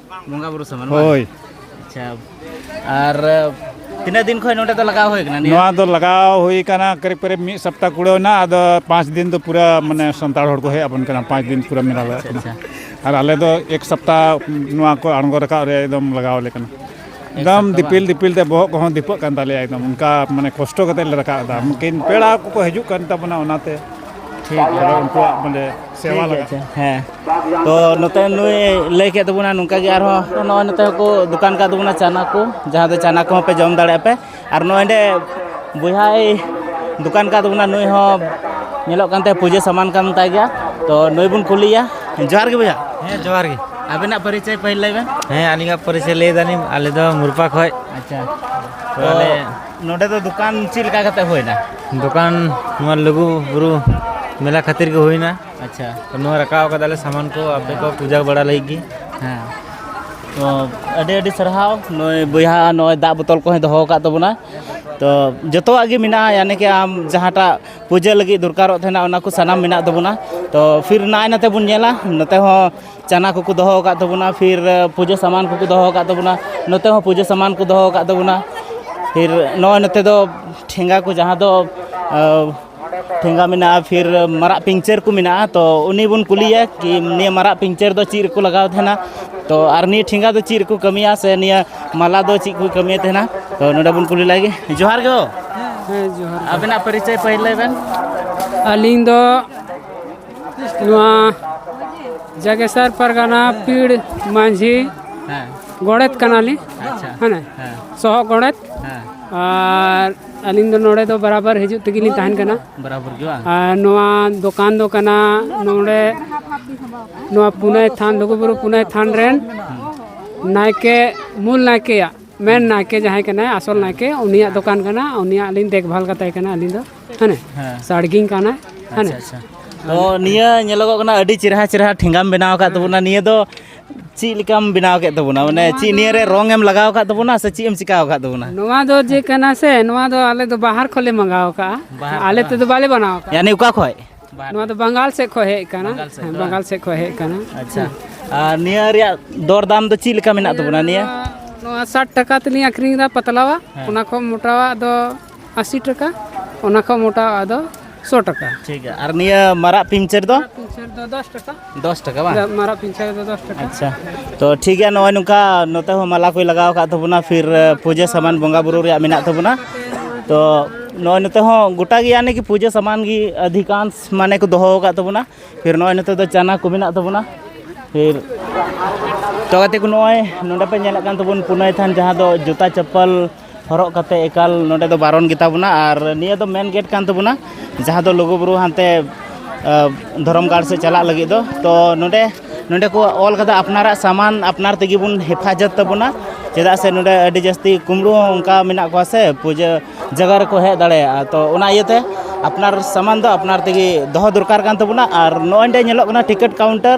ᱵᱚᱸᱜᱟ ᱵᱩᱨᱩ ᱥᱟᱢᱟᱱ ᱵᱟᱝ? ᱦᱳᱭ ᱟᱪᱪᱷᱟ ᱟᱨ ᱛᱤᱱᱟᱹᱜ ᱫᱤᱱ ᱠᱷᱚᱱ ᱱᱚᱰᱮ ᱫᱚ ᱞᱟᱜᱟᱣ ᱦᱩᱭ ᱠᱟᱱᱟ ᱱᱤᱭᱟᱹ ᱱᱚᱣᱟ ᱫᱚ ᱞᱟᱜᱟᱣ ᱦᱩᱭ ᱠᱟᱱᱟ ᱠᱟᱹᱨᱤᱵ ᱠᱟᱹᱨᱤᱵ ᱢᱤᱫ ᱥᱚᱯᱛᱟ ᱠᱩᱲᱟᱹᱣ ᱮᱱᱟ ᱟᱫᱚ ᱯᱟᱸᱪ ᱫᱤᱱ ᱫᱚ ᱯᱩᱨᱟᱹ ᱢᱟᱱᱮ ᱥᱟᱱᱛᱟᱲ ᱦᱚᱲ ᱠᱚ ᱦᱮᱡ ᱟᱵᱚᱱ ᱠᱟᱱᱟ ᱯᱟᱸᱪ ᱫᱤᱱ ᱯᱩᱨᱟᱹ ᱢᱮᱞᱟ ᱞᱟᱜᱟᱜ ᱠᱟᱱᱟ ᱟᱪᱪᱷᱟ ᱟᱨ ᱟᱞᱮ ᱫᱚ ᱮᱠ ᱥᱚᱯᱛᱟ ᱱᱚᱣᱟ ᱠᱚ ᱟᱬᱜᱚ ᱨᱟᱠᱟᱵ ᱨᱮ ᱮᱠᱫᱚᱢ ᱞᱟᱜᱟᱣ ᱟᱞᱮ ᱠᱟᱱᱟ ᱮᱠᱫᱚᱢ ᱫᱤᱯᱤᱞ ᱫᱤᱯᱤᱞ ᱛᱮ ᱵᱚᱦᱚᱜ ᱠᱚᱦᱚᱸ ᱫᱤᱯᱟᱹᱜ ᱠᱟᱱ ᱛᱟᱞᱮᱭᱟ ᱮᱠᱫᱚᱢ ᱚᱱᱠᱟ ᱢᱟᱱᱮ ᱠᱚᱥᱴᱚ ᱠᱟᱛᱮ ᱞᱮ ᱨᱟᱠᱟᱵ ᱮᱫᱟ ᱢᱩᱠᱤᱱ ᱯᱮᱲᱟ ᱠᱚᱠᱚ ᱦᱤᱡᱩᱜ ᱠᱟᱱ ᱛᱟᱵᱚᱱᱟ ᱚᱱᱟᱛᱮ ᱴᱷᱤᱠ ᱜᱮᱭᱟ ᱟᱫᱚ ᱩᱱᱠᱩᱣᱟᱜ ᱢᱟᱱᱮ ᱥᱮᱵᱟ ᱴᱷᱤᱠ ᱞᱟᱜᱟᱜ ᱟᱪᱷᱟ ᱦᱮᱸ ᱛᱚ ᱱᱚᱛᱮ ᱱᱩᱭ ᱞᱟᱹᱭ ᱠᱮᱫ ᱛᱟᱵᱚᱱᱟ ᱱᱚᱝᱠᱟ ᱜᱮ ᱟᱨᱦᱚᱸ ᱱᱚᱜᱼᱚᱭ ᱱᱚᱛᱮ ᱦᱚᱸᱠᱚ ᱫᱚᱠᱟᱱ ᱠᱟᱫ ᱛᱟᱵᱚᱱᱟ ᱪᱟᱱᱟ ᱠᱚ ᱡᱟᱦᱟᱸ ᱫᱚ ᱪᱟᱱᱟ ᱠᱚᱦᱚᱸ ᱯᱮ ᱡᱚᱢ ᱫᱟᱲᱮᱭᱟᱜᱼᱟ ᱯᱮ ᱟᱨ ᱱᱚᱰᱮ ᱵᱚᱭᱦᱟᱭ ᱫᱚᱠᱟᱱ ᱠᱟᱫ ᱵᱚᱱᱟ ᱱᱩᱭ ᱦᱚᱸ ᱧᱮᱞᱚᱜ ᱠᱟᱱ ᱛᱟᱭ ᱯᱩᱡᱟᱹ ᱥᱟᱢᱟᱱ ᱠᱟᱱ ᱛᱟᱭ ᱜᱮᱭᱟ ᱛᱚ ᱱᱩᱭ ᱵᱚᱱ ᱠᱩᱞᱤᱭᱟ ᱡᱚᱦᱟᱨ ᱜᱮ ᱵᱚᱭᱦᱟ ᱦᱮᱸ ᱡᱚᱦᱟᱨ ᱜᱮ ᱟᱵᱮᱱᱟᱜ ᱯᱚᱨᱤᱪᱚᱭ ᱯᱟᱹᱦᱤᱞ ᱞᱟᱹᱭ ᱵᱮᱱ ᱦᱮᱸ ᱟᱹᱞᱤᱧᱟᱜ ᱯᱚᱨᱤᱪᱚᱭ ᱞᱟᱹᱭ ᱫᱟᱞᱤᱧ ᱟᱞᱮ ᱫᱚ ᱢᱩᱨᱯᱟ ᱠᱷᱚᱡ ᱟᱪᱪᱷᱟ ᱛᱚ ᱟᱞᱮ ᱱᱚᱰᱮ ᱫᱚ ᱫᱚᱠᱟᱱ ᱪᱮᱫ ᱞᱮᱠᱟ ᱠᱟᱛᱮ ᱦᱩᱭᱱᱟ ᱫᱚᱠᱟᱱ ᱱᱚᱣᱟ ᱞᱩᱜᱩ ᱵᱩᱨᱩ ᱢᱮᱞᱟ ᱠᱷᱟᱹᱛᱤᱨ ᱜᱮ ᱦᱩᱭᱱᱟ ᱟᱪᱪᱷᱟ ᱛᱚ ᱱᱚᱣᱟ ᱨᱟᱠᱟᱵ ᱠᱟᱫᱟᱞᱮ ᱥᱟᱢᱟᱱ ᱠᱚ ᱟᱯᱮ ᱠᱚ ᱯᱩᱡᱟ ᱵᱟᱲᱟ ᱞᱟᱹᱜᱤᱫ ᱜᱮ ᱦᱮᱸ ᱛᱚ ᱟᱹᱰᱤ ᱟᱹᱰᱤ ᱥᱟᱨᱦᱟᱣ ᱱᱚᱜᱼᱚᱭ ᱵᱚᱭᱦᱟ ᱱᱚᱜᱼᱚᱭ ᱫᱟᱜ ᱵᱳᱛᱚᱞ ᱠᱚᱦᱚᱸᱭ ᱫᱚᱦᱚ ᱟᱠᱟᱫ ᱛᱟᱵᱚᱱᱟ ᱛᱚ ᱡᱚᱛᱚᱣᱟᱜ ᱜᱮ ᱢᱮᱱᱟᱜᱼᱟ ᱭᱟᱱᱤ ᱠᱤ ᱟᱢ ᱡᱟᱦᱟᱸᱴᱟᱜ ᱯᱩᱡᱟᱹ ᱞᱟᱹᱜᱤᱫ ᱫᱚᱨᱠᱟᱨᱚᱜ ᱛᱟᱦᱮᱱᱟ ᱚᱱᱟ ᱠᱚ ᱥᱟᱱᱟᱢ ᱢᱮᱱᱟᱜ ᱛᱟᱵᱚᱱᱟ ᱛᱚ ᱯᱷᱤᱨ ᱱᱟᱭ ᱱᱟᱛᱮ ᱵᱚᱱ ᱧᱮᱞᱟ ᱱᱚᱛᱮ ᱦᱚᱸ ᱪᱟᱱᱟ ᱠᱚᱠᱚ ᱫᱚᱦᱚ ᱟᱠᱟᱫ ᱛᱟᱵᱚᱱᱟ ᱯᱷᱤᱨ ᱯᱩᱡᱟᱹ ᱥᱟᱢᱟᱱ ᱠᱚᱠᱚ ᱫᱚᱦᱚ ᱟᱠᱟᱫ ᱛᱟᱵᱚᱱᱟ ᱱᱚᱛᱮ ᱦᱚᱸ ᱯᱩᱡᱟᱹ ᱥᱟᱢᱟᱱ ᱠᱚ ᱫᱚᱦᱚ ᱟᱠᱟᱫ ᱛᱟᱵᱚᱱᱟ ᱯᱷᱤᱨ ᱱᱚᱜᱼᱚᱭ ᱱᱚᱛᱮ ᱫᱚ ᱴᱷᱮᱸᱜᱟ ᱠᱚ ᱡᱟᱦᱟᱸ ᱫᱚ ᱟᱹ, ᱴᱷᱮᱸᱜᱟ ᱢᱮᱱᱟᱜᱼᱟ ᱯᱷᱤᱨ ᱢᱟᱨᱟᱜ ᱯᱤᱧᱪᱟᱹᱨ ᱠᱚ ᱢᱮᱱᱟᱜᱼᱟ ᱛᱚ ᱩᱱᱤ ᱵᱚᱱ ᱠᱩᱞᱤᱭᱮᱭᱟ ᱠᱤ ᱱᱤᱭᱟᱹ ᱢᱟᱨᱟᱜ ᱯᱤᱧᱪᱟᱹᱨ ᱫᱚ ᱪᱮᱫ ᱨᱮᱠᱚ ᱞᱟᱜᱟᱣ ᱛᱟᱦᱮᱱᱟ ᱛᱚ ᱟᱨ ᱱᱤᱭᱟᱹ ᱴᱷᱮᱸᱜᱟ ᱫᱚ ᱪᱮᱫ ᱨᱮᱠᱚ ᱠᱟᱹᱢᱤᱭᱟ ᱥᱮ ᱱᱤᱭᱟᱹ ᱢᱟᱞᱟ ᱫᱚ ᱪᱮᱫ ᱠᱚ ᱠᱟᱹᱢᱤᱭᱮᱫ ᱛᱟᱦᱮᱱᱟ ᱛᱚ ᱱᱚᱰᱮ ᱵᱚᱱ ᱠᱩᱞᱤ ᱞᱟᱭᱜᱮ ᱡᱚᱦᱟᱨ ᱜᱮ ᱦᱳ ᱟᱵᱮᱱᱟᱜ ᱯᱚᱨᱤᱪᱚᱭ ᱯᱟᱹᱦᱤᱞ ᱞᱟᱹᱭ ᱵᱮᱱ ᱟᱹᱞᱤᱧ ᱫᱚ ᱱᱚᱣᱟ ᱡᱟᱜᱮᱥᱟᱨ ᱯᱟᱨᱜᱟᱱᱟ ᱯᱤᱲ ᱢᱟᱹᱡᱷᱤ ᱦᱮᱸ ᱜᱚᱰᱮᱛ ᱠᱟᱱᱟᱞᱤᱧ ᱟᱪᱪᱷᱟ ᱦᱮᱸ ᱥᱚᱦᱚ ᱜᱚᱰᱮᱛ ᱦᱮᱸ ᱟᱨ ᱟᱹᱞᱤᱧ ᱫᱚ ᱱᱚᱰᱮ ᱫᱚ ᱵᱟᱨᱟᱵᱟᱨ ᱦᱤᱡᱩᱜ ᱛᱮᱜᱮ ᱞᱤᱧ ᱛᱟᱦᱮᱱ ᱠᱟᱱᱟ ᱵᱟᱨᱟᱵᱚᱨ ᱜᱮ ᱵᱟᱝ ᱟᱨ ᱱᱚᱣᱟ ᱫᱚᱠᱟᱱ ᱫᱚ ᱠᱟᱱᱟ ᱱᱚᱰᱮ ᱱᱚᱣᱟ ᱯᱩᱱᱟᱭ ᱛᱷᱟᱱ ᱞᱩᱜᱩᱵᱩᱨᱩ ᱯᱩᱱᱟᱭ ᱛᱷᱟᱱ ᱨᱮᱱ ᱱᱟᱭᱠᱮ ᱢᱩᱞ ᱱᱟᱭᱠᱮᱭᱟᱜ ᱢᱮᱱ ᱱᱟᱭᱠᱮ ᱡᱟᱦᱟᱸᱭ ᱠᱟᱱᱟᱭ ᱟᱥᱚᱞ ᱱᱟᱭᱠᱮ ᱩᱱᱤᱭᱟᱜ ᱫᱚᱠᱟᱱ ᱠᱟᱱᱟ ᱩᱱᱤᱭᱟᱜ ᱞᱤᱧ ᱫᱮᱠᱵᱷᱟᱞ ᱠᱟᱛᱟᱭ ᱠᱟᱱᱟ ᱟᱹᱞᱤᱧ ᱫᱚ ᱦᱮᱸ ᱦᱮᱸ ᱥᱟᱲᱜᱤᱧ ᱠᱟᱱᱟᱭ ᱦᱮᱸ ᱟᱪᱪᱷᱟ ᱟᱪᱪᱷᱟ ᱛᱚ ᱱᱤᱭᱟᱹ ᱧᱮᱞᱚᱜᱚᱜ ᱠᱟᱱᱟ ᱟᱹᱰᱤ ᱪᱮᱨᱦᱟ ᱪᱮᱨᱦᱟ ᱴᱷᱮᱸᱜᱟᱢ ᱵᱮᱱᱟᱣ ᱟᱠᱟᱫ ᱛᱟᱵᱚᱱᱟ ᱱᱤᱭᱟᱹ ᱫᱚ ᱪᱮᱫ ᱞᱮᱠᱟᱢ ᱵᱮᱱᱟᱣ ᱠᱮᱫ ᱛᱟᱵᱚᱱᱟ ᱢᱟᱱᱮ ᱪᱮᱫ ᱱᱤᱭᱟᱹ ᱨᱮ ᱨᱚᱝ ᱮᱢ ᱞᱟᱜᱟᱣ ᱟᱠᱟᱫ ᱛᱟᱵᱚᱱᱟ ᱥᱮ ᱪᱮᱫ ᱮᱢ ᱪᱤᱠᱟᱣ ᱟᱠᱟᱫ ᱛᱟᱵᱚᱱᱟ ᱱᱚᱣᱟ ᱫᱚ ᱡᱮ ᱠᱟᱱᱟ ᱥᱮ ᱱᱚᱣᱟ ᱫᱚ ᱟᱞᱮ ᱫᱚ ᱵᱟᱦᱟᱨ ᱠᱷᱚᱱ ᱞᱮ ᱢᱟᱸᱜᱟᱣ ᱠᱟᱜᱼᱟ ᱟᱞᱮ ᱛᱮᱫᱚ ᱵᱟᱞᱮ ᱵᱟᱱᱟᱣ ᱠᱟᱜᱼᱟ ᱭᱟᱱᱤ ᱚᱠᱟ ᱠᱷᱚᱡ ᱱᱚᱣᱟ ᱫᱚ ᱵᱟᱝᱜᱟᱞ ᱥᱮᱫ ᱠᱷᱚᱱ ᱦᱮᱡ ᱠᱟᱱᱟ ᱵᱟᱝᱜᱟᱞ ᱥᱮᱫ ᱠᱷᱚᱱ ᱦᱮᱡ ᱠᱟᱱᱟ ᱟᱪᱪᱷᱟ ᱟᱨ ᱱᱤᱭᱟᱹ ᱨᱮᱭᱟᱜ ᱫᱚᱨ ᱫᱟᱢ ᱫᱚ ᱪᱮᱫ ᱞᱮᱠᱟ ᱢᱮᱱᱟᱜ ᱛᱟᱵᱚᱱᱟ ᱱᱤᱭᱟᱹ ᱱᱚᱣᱟ ᱥᱟᱴ ᱴᱟᱠᱟ ᱛᱮᱞᱤᱧ ᱟᱹᱠᱷᱨᱤᱧ ᱮᱫᱟ ᱯᱟᱛᱞᱟᱣᱟ ᱚᱱᱟ ᱠᱷᱚᱱ ᱢᱚᱴᱟᱣᱟᱜ ᱫᱚ ᱟᱥᱤ ᱴᱟᱠᱟ ᱚᱱᱟ ᱠᱷᱚᱱ ᱢᱚᱴᱟᱣᱟᱜ ᱫᱚ ᱥᱚ ᱴᱟᱠᱟ ᱴᱷᱤᱠ ᱜᱮᱭᱟ ᱟᱨ ᱱᱤᱭᱟᱹ ᱢᱟᱨᱟᱜ ᱯᱤᱧᱪᱟᱹᱨ ᱫᱚ ᱯᱤᱧᱪᱟᱹᱨ ᱫᱚ ᱫᱚᱥ ᱴᱟᱠᱟ ᱫᱚᱥ ᱴᱟᱠᱟ ᱵᱟᱝ ᱢᱟᱨᱟᱜ ᱯᱤᱧᱪᱟᱹᱨ ᱫᱚ ᱫᱚᱥ ᱴᱟᱠᱟ ᱟᱪᱪᱷᱟ ᱛᱚ ᱴᱷᱤᱠ ᱜᱮᱭᱟ ᱱᱚᱜᱼᱚᱭ ᱱᱚᱝᱠᱟ ᱱᱚᱛᱮ ᱦᱚᱸ ᱢᱟᱞᱟ ᱠᱚᱭ ᱞᱟᱜᱟᱣ ᱟᱠᱟᱫ ᱛᱟᱵᱚᱱᱟ ᱯᱷᱤᱨ ᱯᱩᱡᱟᱹ ᱥᱟᱢᱟᱱ ᱵᱚᱸᱜᱟ ᱵᱩᱨᱩ ᱨᱮᱭᱟᱜ ᱢᱮᱱᱟᱜ ᱛᱟᱵᱚᱱᱟ ᱛᱚ ᱱᱚᱜᱼᱚᱭ ᱱᱚᱛᱮ ᱦᱚᱸ ᱜᱚᱴᱟ ᱜᱮ ᱭᱟᱱᱤ ᱠᱤ ᱯᱩᱡᱟᱹ ᱥᱟᱢᱟᱱ ᱜᱮ ᱟᱫᱷᱤᱠᱟᱝᱥ ᱢᱟᱱᱮ ᱠᱚ ᱫᱚᱦᱚ ᱟᱠᱟᱫ ᱛᱟᱵᱚᱱᱟ ᱯᱷᱤᱨ ᱱᱚᱜᱼᱚᱭ ᱱᱚᱛᱮ ᱫᱚ ᱪᱟᱱᱟ ᱠᱚ ᱢᱮᱱᱟᱜ ᱛᱟᱵᱚᱱᱟ ᱯᱷᱤᱨ ᱛᱚ ᱜᱟᱛᱮ ᱠᱚ ᱱᱚᱜᱼᱚᱭ ᱱᱚᱰᱮ ᱯᱮ ᱧᱮᱞᱮᱫ ᱠᱟᱱ ᱛᱟᱵᱚᱱ ᱯᱩᱱᱟᱹᱭ ᱛᱷᱟᱱ ᱡᱟᱦᱟᱸ ᱫᱚ ᱡᱩᱛᱟ ᱪᱟᱯᱯᱟᱞ ᱦᱚᱨᱚᱜ ᱠᱟᱛᱮ ᱮᱠᱟᱞ ᱱᱚᱰᱮ ᱫᱚ ᱵᱟᱨᱚᱱ ᱜᱮᱛᱟ ᱵᱚᱱᱟ ᱟᱨ ᱱᱤᱭᱟᱹ ᱫᱚ ᱢᱮᱱ ᱜᱮᱴ ᱠᱟᱱ ᱛᱟᱵᱚᱱᱟ ᱡᱟᱦᱟᱸ ᱫᱚ ᱞᱩᱜᱩᱼᱵᱩᱨᱩ ᱦᱟᱱᱛᱮ ᱫᱷᱚᱨᱚᱢ ᱜᱟᱲ ᱥᱮᱫ ᱪᱟᱞᱟᱜ ᱞᱟᱹᱜᱤᱫ ᱫᱚ ᱛᱚ ᱱᱚᱰᱮ ᱱᱚᱰᱮ ᱠᱚ ᱚᱞ ᱠᱟᱫᱟ ᱟᱯᱱᱟᱨᱟᱜ ᱥᱟᱢᱟᱱ ᱟᱯᱱᱟᱨ ᱛᱮᱜᱮ ᱵᱚᱱ ᱦᱮᱯᱷᱟᱡᱚᱛ ᱛᱟᱵᱚᱱᱟ ᱪᱮᱫᱟᱜ ᱥᱮ ᱱᱚᱰᱮ ᱟᱹᱰᱤ ᱡᱟᱹᱥᱛᱤ ᱠᱩᱢᱵᱽᱲᱩ ᱦᱚᱸ ᱚᱱᱠᱟ ᱢᱮᱱᱟᱜ ᱠᱚᱣᱟ ᱥᱮ ᱯᱩᱡᱟᱹ ᱡᱟᱭᱜᱟ ᱨᱮᱠᱚ ᱦᱮᱡ ᱫᱟᱲᱮᱭᱟᱜᱼᱟ ᱛᱚ ᱚᱱᱟ ᱤᱭᱟᱹᱛᱮ ᱟᱯᱱᱟᱨ ᱥᱟᱢᱟᱱ ᱫᱚ ᱟᱯᱱᱟᱨ ᱛᱮᱜᱮ ᱫᱚᱦᱚ ᱫᱚᱨᱠᱟᱨ ᱠᱟᱱ ᱛᱟᱵᱚᱱᱟ ᱟᱨ ᱱᱚᱜᱼᱚᱭ ᱱᱚᱰᱮ ᱧᱮᱞᱚᱜ ᱠᱟᱱᱟ ᱴᱤᱠᱤᱴ ᱠᱟᱣᱩᱱᱴᱟᱨ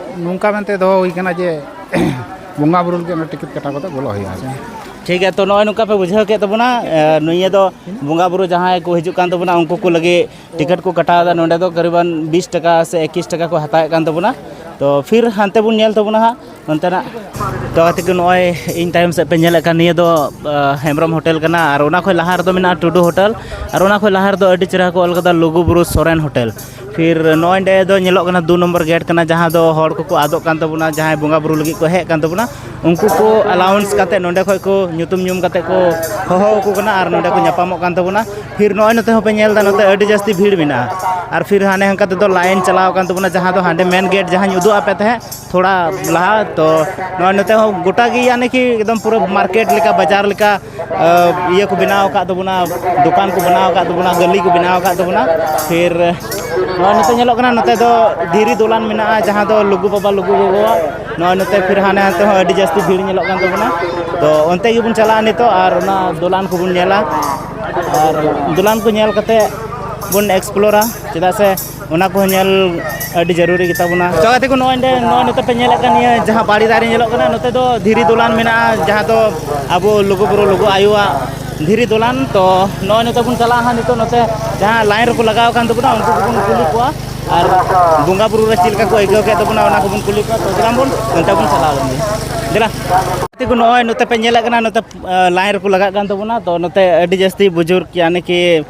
ᱱᱚᱝᱠᱟ ᱢᱮᱱᱛᱮ ᱫᱚᱦᱚ ᱦᱩᱭ ᱠᱟᱱᱟ ᱡᱮ ᱵᱚᱸᱜᱟ ᱵᱩᱨᱩ ᱞᱟᱹᱜᱤᱫ ᱚᱱᱟ ᱴᱤᱠᱤᱴ ᱠᱟᱴᱟᱣ ᱠᱟᱛᱮ ᱵᱚᱞᱚᱜ ᱦᱩᱭᱩᱜᱼᱟ ᱴᱷᱤᱠ ᱜᱮᱭᱟ ᱛᱚ ᱱᱚᱜᱼᱚᱭ ᱱᱚᱝᱠᱟ ᱯᱮ ᱵᱩᱡᱷᱟᱹᱣ ᱠᱮᱫ ᱛᱟᱵᱚᱱᱟ ᱱᱤᱭᱟᱹ ᱫᱚ ᱵᱚᱸᱜᱟ ᱵᱩᱨᱩ ᱡᱟᱦᱟᱸᱭ ᱠᱚ ᱦᱤᱡᱩᱜ ᱠᱟᱱ ᱛᱟᱵᱚᱱᱟ ᱩᱱᱠᱩ ᱠᱚ ᱞᱟᱹᱜᱤᱫ ᱴᱤᱠᱤᱴ ᱠᱚ ᱠᱟᱴᱟᱣ ᱮᱫᱟ ᱱᱚᱰᱮ ᱫᱚ ᱠᱟᱨᱤᱵᱟᱱ ᱵᱤᱥ ᱴᱟᱠᱟ ᱥᱮ ᱮᱠᱤᱥ ᱴᱟᱠᱟ ᱠᱚ ᱦᱟᱛᱟᱣᱮᱫ ᱠᱟᱱ ᱛᱟᱵᱚᱱᱟ ᱛᱚ ᱯᱷᱤᱨ ᱦᱟᱱᱛᱮ ᱵᱚᱱ ᱧᱮᱞ ᱛᱟᱵᱚᱱᱟ ᱦᱟᱸᱜ ᱱᱚᱱᱛᱮᱱᱟᱜ ᱛᱚ ᱜᱟᱛᱮ ᱠᱚ ᱱᱚᱜᱼᱚᱭ ᱤᱧ ᱛᱟᱭᱚᱢ ᱥᱮᱫ ᱯᱮ ᱧᱮᱞᱮᱫ ᱠᱟᱱ ᱱᱤᱭᱟᱹ ᱫᱚ ᱦᱮᱢᱵᱨᱚᱢ ᱦᱳᱴᱮᱞ ᱠᱟᱱᱟ ᱟᱨ ᱚᱱᱟ ᱠᱷᱚᱱ ᱞᱟᱦᱟ ᱨᱮᱫᱚ ᱢᱮᱱᱟᱜᱼᱟ ᱴᱩᱰᱩ ᱦᱳᱴᱮᱞ ᱟᱨ ᱚᱱᱟ ᱠᱷᱚᱱ ᱞᱟᱦᱟ ᱨᱮᱫᱚ ᱟᱹᱰᱤ ᱪᱮᱦᱨᱟ ᱠᱚ ᱚᱞ ᱠᱟᱫᱟ ᱞᱩᱜᱩᱼᱵᱩᱨᱩ ᱥᱚᱨᱮᱱ ᱦᱳᱴᱮᱞ ᱯᱷᱤᱨ ᱱᱚᱜᱼᱚᱭ ᱱᱚᱸᱰᱮ ᱫᱚ ᱧᱮᱞᱚᱜ ᱠᱟᱱᱟ ᱫᱩ ᱱᱚᱢᱵᱚᱨ ᱜᱮᱴ ᱠᱟᱱᱟ ᱡᱟᱦᱟᱸ ᱫᱚ ᱦᱚᱲ ᱠᱚᱠᱚ ᱟᱫᱚᱜ ᱠᱟᱱ ᱛᱟᱵᱚᱱᱟ ᱡᱟᱦᱟᱸᱭ ᱵᱚᱸᱜᱟ ᱵᱩᱨᱩ ᱞᱟᱹᱜᱤᱫ ᱠᱚ ᱦᱮᱡ ᱠᱟᱱ ᱛᱟᱵᱚᱱᱟ ᱩᱱᱠᱩ ᱠᱚ ᱮᱞᱟᱣᱩᱱᱥ ᱠᱟᱛᱮᱫ ᱱᱚᱸᱰᱮ ᱠᱷᱚᱱ ᱠᱚ ᱧᱩᱛᱩᱢ ᱧᱩᱢ ᱠᱟᱛᱮᱫ ᱠᱚ ᱦᱚᱦᱚ ᱟᱠᱚ ᱠᱟᱱᱟ ᱟᱨ ᱱᱚᱸᱰᱮ ᱠᱚ ᱧᱟᱯᱟᱢᱚᱜ ᱠᱟᱱ ᱛᱟᱵᱚᱱᱟ ᱯᱷᱤᱨ ᱱᱚᱜᱼᱚᱭ ᱱᱚᱛᱮ ᱦᱚᱸᱯᱮ ᱧᱮᱞ ᱮᱫᱟ ᱱᱚᱛᱮ ᱟᱹᱰᱤ ᱡᱟᱹᱥᱛᱤ ᱵᱷᱤᱲ ᱢᱮᱱᱟᱜᱼᱟ ᱟᱨ ᱯᱷᱤᱨ ᱦᱟᱱᱮ ᱦᱟᱱᱠᱟ ᱛᱮᱫᱚ ᱞᱟᱭᱤᱱ ᱪᱟᱞᱟᱣ ᱟᱠᱟᱱ ᱛᱟᱵᱚᱱᱟ ᱡᱟᱦᱟᱸ ᱫᱚ ᱦᱟᱸᱰᱮ ᱢᱮᱱ ᱜᱮᱴ ᱡᱟᱦᱟᱸᱧ ᱩᱫᱩᱜ ᱟᱯᱮ ᱛᱟᱦᱮᱸᱫ ᱛᱷᱚᱲᱟ ᱞᱟᱦᱟ ᱛᱚ ᱱᱚᱜᱼᱚᱭ ᱱᱚᱛᱮ ᱦᱚᱸ ᱜᱚᱴᱟ ᱜᱮ ᱭᱟᱱᱤ ᱠᱤ ᱮᱠᱫᱚᱢ ᱯᱩᱨᱟᱹ ᱢᱟᱨᱠᱮᱴ ᱞᱮᱠᱟ ᱵᱟᱡᱟᱨ ᱞᱮᱠᱟ ᱤᱭᱟᱹ ᱠᱚ ᱵᱮᱱᱟᱣ ᱟᱠᱟᱫ ᱛᱟᱵᱚᱱᱟ ᱫᱚᱠᱟᱱ ᱠᱚ ᱵᱮᱱᱟᱣ ᱟᱠᱟᱫ ᱛᱟᱵᱚᱱᱟ ᱜᱟᱹᱞᱤ ᱠᱚ ᱵᱮᱱᱟᱣ ᱟᱠᱟᱫ ᱛᱟᱵᱚᱱᱟ ᱯᱷᱤᱨ ᱱᱚᱜᱼᱚᱭ ᱱᱤᱛᱚᱜ ᱧᱮᱞᱚᱜ ᱠᱟᱱᱟ ᱱᱚᱛᱮ ᱫᱚ ᱫᱷᱤᱨᱤ ᱫᱚᱞᱟᱱ ᱢᱮᱱᱟᱜᱼᱟ ᱡᱟᱦᱟᱸ ᱫᱚ ᱞᱩᱜᱩ ᱵᱟᱵᱟ ᱞᱩᱜᱩ ᱜᱚᱜᱚᱣᱟᱜ ᱱᱚᱜᱼᱚᱭ ᱱᱚᱛᱮ ᱯᱷᱤᱨ ᱦᱟᱱᱮ ᱦᱟᱱᱛᱮ ᱦᱚᱸ ᱟᱹᱰᱤ ᱡᱟᱹᱥᱛᱤ ᱵᱷᱤᱲ ᱧᱮᱞᱚᱜ ᱠᱟᱱ ᱛᱟᱵᱚᱱᱟ ᱛᱚ ᱚᱱᱛᱮ ᱜᱮᱵᱚᱱ ᱪᱟᱞᱟᱜᱼᱟ ᱱᱤᱛᱚᱜ ᱟᱨ ᱚᱱᱟ ᱫᱚᱞᱟᱱ ᱠᱚᱵᱚᱱ ᱧᱮᱞᱟ ᱟᱨ ᱫᱚᱞᱟᱱ ᱠᱚ ᱧᱮᱞ ᱠᱟᱛᱮᱫ ᱵᱚᱱ ᱮᱠᱥᱯᱞᱳᱨᱟ ᱪᱮᱫᱟᱜ ᱥᱮ ᱚᱱᱟ ᱠᱚᱦᱚᱸ ᱧᱮᱞ ᱟᱹᱰᱤ ᱡᱟᱹᱨᱩᱨᱤ ᱜᱮᱛᱟ ᱵᱚᱱᱟ ᱛᱚ ᱜᱟᱛᱮ ᱠᱚ ᱱᱚᱜᱼᱚᱭ ᱱᱚᱜᱼᱚᱭ ᱱᱚᱛᱮ ᱯᱮ ᱧᱮᱞᱮᱫ ᱠᱟᱱ ᱱᱤᱭᱟᱹ ᱡᱟᱦᱟᱸ ᱵᱟᱲᱮ ᱫᱟᱨᱮ ᱧᱮᱞᱚᱜ ᱠᱟᱱᱟ ᱱᱚᱛᱮ ᱫᱚ ᱫᱷᱤᱨᱤ ᱫᱚᱞᱟᱱ ᱢᱮᱱᱟᱜᱼᱟ ᱡᱟᱦᱟᱸ ᱫᱚ ᱟᱵᱚ ᱞᱩᱜᱩᱼᱵᱩᱨᱩ ᱞᱩᱜᱩ ᱟᱭᱳᱣᱟᱜ ᱫᱷᱤᱨᱤ ᱫᱚᱞᱟᱱ ᱛᱚ ᱱᱚᱜᱼᱚᱭ ᱱᱚᱛᱮ ᱵᱚᱱ ᱪᱟᱞᱟᱜᱼᱟ ᱦᱟᱸᱜ ᱱᱤᱛᱚᱜ ᱱᱚᱛᱮ ᱡᱟᱦᱟᱸ ᱞᱟᱭᱤᱱ ᱨᱮᱠᱚ ᱞᱟᱜᱟᱣ ᱟᱠᱟᱱ ᱛᱟᱵᱚᱱᱟ ᱩᱱᱠᱩ ᱠᱚᱵᱚᱱ ᱠᱩᱞᱤ ᱠᱚᱣᱟ ᱟᱨ ᱵᱚᱸᱜᱟ ᱵᱩᱨᱩ ᱨᱮ ᱪᱮᱫ ᱞᱮᱠᱟ ᱠᱚ ᱟᱹᱭᱠᱟᱹᱣ ᱠᱮᱫ ᱛᱟᱵᱚᱱᱟ ᱚᱱᱟ ᱠᱚᱵᱚᱱ ᱠᱩᱞᱤ ᱠᱚᱣᱟ ᱛᱚ ᱫᱮᱞᱟᱝ ᱵᱚᱱ ᱚᱱᱛᱮ ᱵᱚᱱ ᱪᱟᱞᱟᱣ ᱞᱮᱱ ᱜᱮ ᱫᱮᱞᱟ ᱜᱟᱛᱮ ᱠᱚ ᱱᱚᱜᱼᱚᱭ ᱱᱚᱛᱮ ᱯᱮ ᱧᱮᱞᱮᱫ ᱠᱟᱱᱟ ᱱᱚᱛᱮ ᱞᱟᱭᱤᱱ ᱨᱮᱠᱚ ᱞᱟᱜᱟᱜ ᱠᱟᱱ ᱛᱟᱵᱚᱱᱟ ᱛᱚ ᱱᱚᱛᱮ ᱟᱹᱰᱤ ᱡᱟᱹᱥᱛᱤ ᱵᱩᱡᱩᱨᱜᱽ ᱭᱟᱱᱤ ᱠᱤ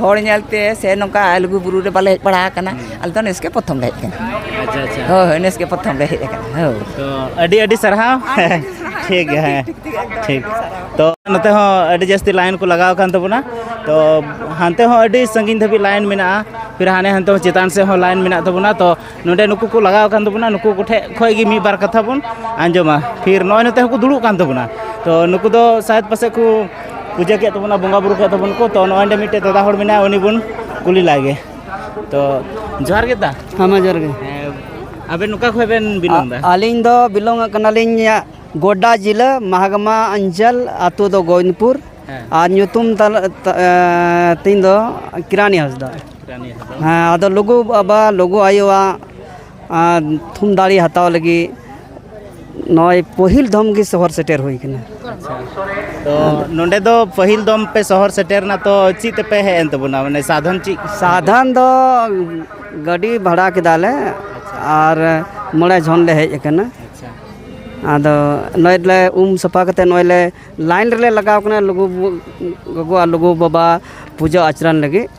ᱦᱚᱲ ᱧᱮᱞᱛᱮ ᱥᱮ ᱱᱚᱝᱠᱟ ᱞᱩᱜᱩ ᱵᱩᱨᱩ ᱨᱮ ᱵᱟᱞᱮ ᱦᱮᱡ ᱵᱟᱲᱟ ᱟᱠᱟᱱᱟ ᱟᱞᱮ ᱫᱚ ᱱᱮᱥ ᱜᱮ ᱯᱨᱚᱛᱷᱚᱢ ᱞᱮ ᱦᱮᱡ ᱟᱠᱟᱱᱟ ᱟᱪᱪᱷᱟ ᱟᱪᱪᱷᱟ ᱦᱳᱭ ᱦᱳᱭ ᱱᱮᱥ ᱜᱮ ᱯᱨᱚᱛᱷᱚᱢ ᱞᱮ ᱦᱮᱡ ᱟᱠᱟᱱᱟ ᱦᱳᱭ ᱛᱚ ᱟᱹᱰᱤ ᱟᱹᱰᱤ ᱥᱟᱨᱦᱟᱣ ᱴᱷᱤᱠ ᱜᱮᱭᱟ ᱦᱮᱸ ᱴᱷᱤᱠ ᱛᱚ ᱱᱚᱛᱮ ᱦᱚᱸ ᱟᱹᱰᱤ ᱡᱟᱹᱥᱛᱤ ᱞᱟᱭᱤᱱ ᱠᱚ ᱞᱟᱜᱟᱣ ᱟᱠᱟᱱ ᱛᱟᱵᱚᱱᱟ ᱛᱚ ᱦᱟᱱᱛᱮ ᱦᱚᱸ ᱟᱹᱰᱤ ᱥᱟᱺᱜᱤᱧ ᱫᱷᱟᱹᱵᱤᱡ ᱞᱟᱭᱤᱱ ᱢᱮᱱᱟᱜᱼᱟ ᱯᱷᱤᱨ ᱦᱟᱱᱮ ᱦᱟᱱᱛᱮ ᱪᱮᱛᱟᱱ ᱥᱮᱫ ᱦᱚᱸ ᱞᱟᱭᱤᱱ ᱢᱮᱱᱟᱜ ᱛᱟᱵᱚᱱᱟ ᱛᱚ ᱱᱚᱰᱮ ᱱᱩᱠᱩ ᱠᱚ ᱞᱟᱜᱟᱣ ᱟᱠᱟᱱ ᱛᱟᱵᱚᱱᱟ ᱱᱩᱠᱩ ᱠᱚᱴᱷᱮᱱ ᱠᱷᱚᱱ ᱜᱮ ᱢᱤᱫ ᱵᱟᱨ ᱠᱟᱛᱷᱟ ᱵᱚᱱ ᱟᱸᱡᱚᱢᱟ ᱯᱷᱤᱨ ᱱᱚᱜᱼᱚᱭ ᱱᱚᱛᱮ ᱦᱚᱸᱠᱚ ᱫᱩᱲᱩᱵ ᱠᱟᱱ ᱛᱟᱵᱚᱱᱟ ᱛᱚ ᱱᱩᱠᱩ ᱫᱚ ᱥᱟᱭᱮᱫ ᱯᱟᱥᱮᱡ ᱠᱚ ᱯᱩᱡᱟᱹ ᱠᱮᱫ ᱛᱟᱵᱚᱱᱟ ᱵᱚᱸᱜᱟ ᱵᱩᱨᱩ ᱠᱮᱫ ᱛᱟᱵᱚᱱ ᱠᱚ ᱛᱚ ᱱᱚᱜᱼᱚᱭ ᱱᱚᱰᱮ ᱢᱤᱫᱴᱮᱡ ᱫᱟᱫᱟ ᱦᱚᱲ ᱢᱮᱱᱟᱭᱟ ᱩᱱᱤ ᱵᱚᱱ ᱠᱩᱞᱤ ᱞᱟᱭᱜᱮ ᱛᱚ ᱡᱚᱦᱟᱨ ᱜᱮ ᱫᱟ ᱦᱮᱸ ᱢᱟ ᱡᱚᱦᱟᱨ ᱜᱮ ᱟᱵᱮᱱ ᱱᱚᱠᱟ ᱠᱷᱚᱱ ᱵᱮᱱ ᱵᱤᱞᱚᱝ ᱫᱟ ᱟᱹᱞᱤᱧ ᱫᱚ ᱵᱤᱞᱚᱝ ᱠᱟᱱᱟᱞᱤᱧ ᱜᱚᱰᱟ ᱡᱤᱞᱟᱹ ᱢᱟᱦᱟᱜᱟᱢᱟ ᱚᱧᱪᱚᱞ ᱟᱛᱳ ᱫᱚ ᱜᱳᱵᱤᱱᱫᱽᱯᱩᱨ ᱟᱨ ᱧᱩᱛᱩᱢ ᱛᱤᱧ ᱫᱚ ᱠᱤᱨᱟᱱᱤ ᱦᱟᱸᱥᱫᱟ ᱦᱮᱸ ᱟᱫᱚ ᱞᱩᱜᱩ ᱵᱟᱵᱟ ᱞᱩᱜᱩ ᱟᱭᱳᱣᱟᱜ ᱛᱷᱩᱢ ᱫᱟᱲᱮ ᱦᱟᱛᱟᱣ ᱞᱟᱹᱜᱤᱫ ᱱᱚᱜᱼᱚᱭ ᱯᱟᱹᱦᱤᱞ ᱫᱚᱢ ᱜᱮ ᱥᱚᱦᱚᱨ ᱥᱮᱴᱮᱨ ᱦᱩᱭ ᱠᱟᱱᱟ ᱛᱚ ᱱᱚᱸᱰᱮ ᱫᱚ ᱯᱟᱹᱦᱤᱞ ᱫᱚᱢ ᱯᱮ ᱥᱚᱦᱚᱨ ᱥᱮᱴᱮᱨᱱᱟ ᱛᱚ ᱪᱮᱫ ᱛᱮᱯᱮ ᱦᱮᱡ ᱮᱱ ᱛᱟᱵᱚᱱᱟ ᱢᱟᱱᱮ ᱥᱟᱫᱷᱚᱱ ᱪᱮᱫ ᱥᱟᱫᱷᱟᱱ ᱫᱚ ᱜᱟᱹᱰᱤ ᱵᱷᱟᱲᱟ ᱠᱮᱫᱟᱞᱮ ᱟᱨ ᱢᱚᱬᱮ ᱡᱚᱱ ᱞᱮ ᱦᱮᱡ ᱟᱠᱟᱱᱟ ᱟᱪᱪᱷᱟ ᱟᱫᱚ ᱱᱚᱜᱼᱚᱭ ᱞᱮ ᱩᱢ ᱥᱟᱯᱷᱟ ᱠᱟᱛᱮ ᱱᱚᱜᱼᱚᱭ ᱞᱮ ᱞᱟᱭᱤᱱ ᱨᱮᱞᱮ ᱞᱟᱜᱟᱣ ᱠᱟᱱᱟ ᱞᱩᱜᱩ ᱜᱚᱜᱚ ᱟᱨ ᱞᱩᱜᱩ ᱵᱟᱵᱟ ᱯᱩᱡᱟᱹ ᱟᱪᱨᱟᱱ ᱞᱟᱹᱜᱤᱫ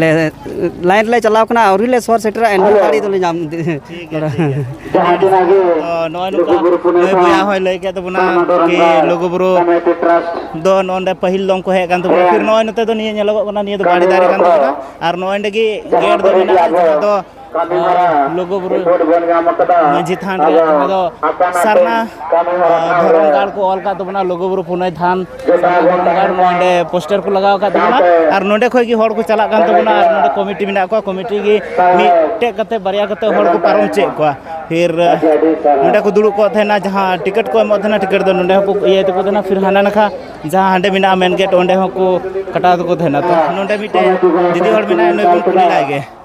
ᱞᱮ ᱞᱟᱭᱤᱱ ᱨᱮᱞᱮ ᱪᱟᱞᱟᱣ ᱠᱟᱱᱟ ᱟᱹᱣᱨᱤ ᱞᱮ ᱥᱚᱦᱚᱨ ᱥᱮᱴᱮᱨᱟ ᱮᱱᱦᱚᱸ ᱜᱟᱹᱰᱤ ᱫᱚᱞᱮ ᱧᱟᱢ ᱵᱚᱭᱦᱟ ᱦᱚᱸᱭ ᱞᱟᱹᱭ ᱠᱮᱫ ᱛᱟᱵᱚᱱᱟ ᱠᱤ ᱞᱩᱜᱩᱵᱩᱨᱩ ᱫᱚ ᱱᱚᱰᱮ ᱯᱟᱹᱦᱤᱞ ᱫᱚ ᱩᱱᱠᱩ ᱦᱮᱡ ᱠᱟᱱ ᱛᱟᱵᱚᱱᱟ ᱯᱷᱤᱨ ᱱᱚᱜᱼᱚᱭ ᱱᱚᱛᱮ ᱫᱚ ᱱᱤᱭᱟᱹ ᱧᱮᱞᱚᱜᱚᱜ ᱠᱟᱱᱟ ᱱᱤᱭᱟᱹ ᱫᱚ ᱵᱟᱲᱮ ᱫᱟᱨᱮ ᱠᱟᱱ ᱛᱟᱵᱚᱱᱟ ᱟᱨ ᱱᱚᱜᱼᱚᱭ ᱱᱚᱰᱮ ᱜᱮ ᱜᱮᱴ ᱫᱚ ᱢᱮᱱᱟᱜᱼᱟ ᱡᱟᱦᱟᱸ ᱫᱚ ᱟᱨ ᱞᱩᱜᱩ ᱵᱩᱨᱩ ᱢᱟᱹᱡᱷᱤ ᱛᱷᱟᱱ ᱨᱮ ᱡᱟᱦᱟᱸ ᱫᱚ ᱥᱟᱨᱱᱟ ᱫᱷᱚᱨᱚᱢ ᱜᱟᱲ ᱠᱚ ᱚᱞ ᱟᱠᱟᱫ ᱛᱟᱵᱚᱱᱟ ᱞᱩᱜᱩ ᱵᱩᱨᱩ ᱯᱩᱱᱟᱹᱭ ᱛᱷᱟᱱ ᱫᱷᱚᱨᱚᱢ ᱜᱟᱲ ᱱᱚᱰᱮ ᱯᱳᱥᱴᱟᱨ ᱠᱚ ᱞᱟᱜᱟᱣ ᱟᱠᱟᱫ ᱛᱟᱵᱚᱱᱟ ᱟᱨ ᱱᱚᱰᱮ ᱠᱷᱚᱱ ᱜᱮ ᱦᱚᱲ ᱠᱚ ᱪᱟᱞᱟᱜ ᱠᱟᱱ ᱛᱟᱵᱚᱱᱟ ᱟᱨ ᱱᱚᱰᱮ ᱠᱚᱢᱤᱴᱤ ᱢᱮᱱᱟᱜ ᱠᱚᱣᱟ ᱠᱚᱢᱤᱴᱤ ᱜᱮ ᱢᱤᱫᱴᱮᱡ ᱠᱟᱛᱮ ᱵᱟᱨᱭᱟ ᱠᱟᱛᱮ ᱦᱚᱲ ᱠᱚ ᱯᱟᱨᱚᱢ ᱪᱮᱫ ᱠᱚᱣᱟ ᱯᱷᱤᱨ ᱱᱚᱰᱮ ᱠᱚ ᱫᱩᱲᱩᱵ ᱠᱚᱜ ᱛᱟᱦᱮᱱᱟ ᱡᱟᱦᱟᱸ ᱴᱤᱠᱤᱴ ᱠᱚ ᱮᱢᱚᱜ ᱛᱟᱦᱮᱱᱟ ᱴᱤᱠᱤᱴ ᱫᱚ ᱱᱚᱰᱮ ᱦᱚᱸᱠᱚ ᱤᱭᱟᱹᱭ ᱛᱟᱠᱚ ᱛᱟᱦᱮᱱᱟ ᱯᱷᱤᱨ ᱦᱟᱱᱟ ᱱᱟᱠᱷᱟ ᱡᱟᱦᱟᱸ ᱦᱟᱸᱰᱮ ᱢᱮᱱᱟᱜᱼᱟ ᱢᱮᱱ ᱜᱮᱴ ᱚᱸᱰᱮ ᱦᱚᱸᱠᱚ ᱠᱟᱴᱟᱣ ᱛᱟᱠᱚ ᱛᱟᱦᱮᱱᱟ ᱛᱚ ᱱᱚᱰᱮ ᱢᱤᱫᱴᱮᱡ ᱫᱤᱫᱤ ᱦᱚᱲ ᱢᱮᱱᱟᱭᱟ ᱱᱩᱭ ᱵᱚᱱ ᱠᱩᱞᱤ ᱞᱟᱭ ᱜᱮ